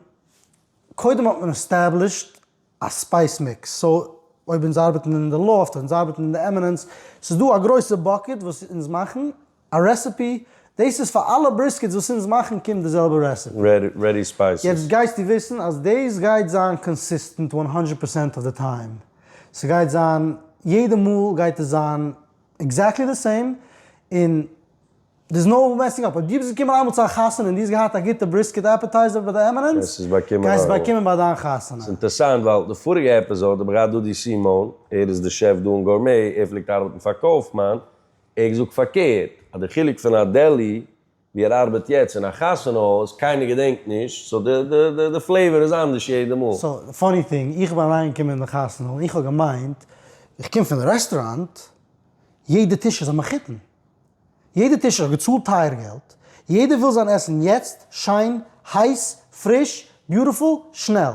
קודם האט מען עסטעבלישט א ספייס מיקס, סאו אויב אונז ארבעטן אין די לאפט, אונז ארבעטן אין די עמינענס, ס'איז דא א גרויסע באקעט וואס אונז מאכן, א רעסעפי? דאס איז פאר אלע בריסקעטס וואס אונז מאכן קומט די זעלבע רעסעפי. רעדי ספייסעס. יעצט גייסטו וויסן אז דאס גייט זיין קאנסיסטענט וואן האנדרעט פערסענט אוו די טיים. ס'גייט זיין יעדע מאל גייט עס זיין עקזעקטלי די סעים און דער'ס נאו מעסינג אפ. אויב דו ביסט געקומען איינמאל צו א חתונה און דו האסט געהאט א גוטע בריסקעט עפעטייזער ביי די עמינענס, גייסטו עס באקומען אויך. גייסטו עס באקומען ביי דיין חתונה. ס'אינטערסאנט ווייל די פאריגע עפיזאד האב איך געהאט דא די סימאון, ער איז די שעף דא אין גורמי, ער פלעגט ארבעטן פאר קויפמאן, איך זאג פארקערט אז די חילוק פון א דעלי ווי ער ארבעט יעצט און א חתונה הויז קיינער געדענקט נישט סאו די פלעיווער איז אנדערש יעדע מאל. סאו די פאני טינג איך בין אריין געקומען אין די חתונה און איך האב געמיינט איך קום פון רעסטוראנט יעדע טיש איז א מחותן יעדע טיש האט געצאלט טייער געלט יעדער וויל זיין עסן יעצט שיין הייס פריש ביוטעפול שנעל.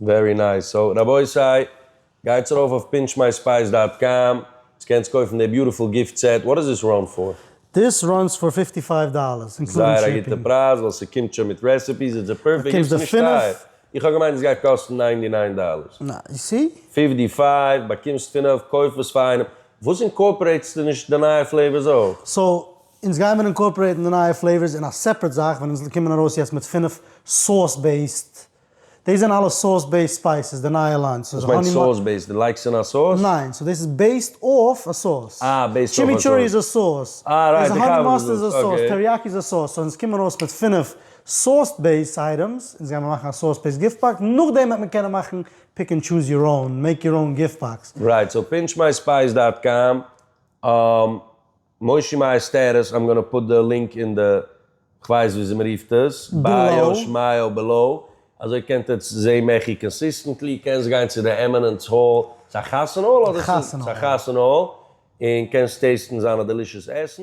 ווערי נייס, סאו רבותי, גייטס ארויף אויף פיענטשמייספייס דאט קאם, אונז קענטס קויפן די ביוטיפול גיפט סעט, וואט דאס דיס ראן פאר? דיס ראנס פאר פיפטי פייוו דאללערס אינקלודינג שיפינג. זייער א גוטע פרייז ווייל ס'קומט שוין מיט רעסעפיס, איז דער פערפעקט גיפט נישט טייער, איך האב געמיינט עס גייט קאסטן ניינטי ניין דאללערס. נא, יו סי? פיפטי פייוו, באקומסט פינף, קויף עס פאר איינעם. וואס אינקארפערעיטסטו נישט די נייע פלעיווארס אויך? סאו אונז גיימער אינקארפערעיטן די נייע פלעיווארס אין א סעפערעט זאך ווען אונז קומען ארויס יעצט מיט פֿינף סאוס בעיסד דאס זענען אלע סאוס בעיסד ספייסעס, די נייע ליין. וואס מיינט סאוס בעיסד? די לייגסט אין א סאוס? ניין, סאו דאס איז בעיסד אויף א סאוס. אה, בעיסד אויף א סאוס. טשימיטשורי איז א סאוס. אה, רייט, איך כאפ וואס דו זאגסט, אקעי. האני מאסטערד איז א סאוס, טעריאקי איז א סאוס, סאו אונז קומען ארויס מיט פֿינף סאוס בעיסד אייטעמס, אונז גיימער מאכן א סאוס בעיסד גיפט באקס, נאכדעם וועט מען קענען מאכן פיק ענד טשוז יור און, מעיק יור און גיפט באקס. רייט, סאו פינטש מיי ספייס דאט קאם. מושי מייסטערס, איים גאנא פוט די לינק אין די, כווייס וויאזוי מרופט עס, ביאו שמייעל בעלאו, אזוי קענט עטס זעהן מעכי קאנסיסטענטלי, קענסט גיין צו די עמינענטס האל, ס'אחתונה האל אדער ס'אחתונה האל, און קענסט טעיסטן זיינע דעלישעס עסן.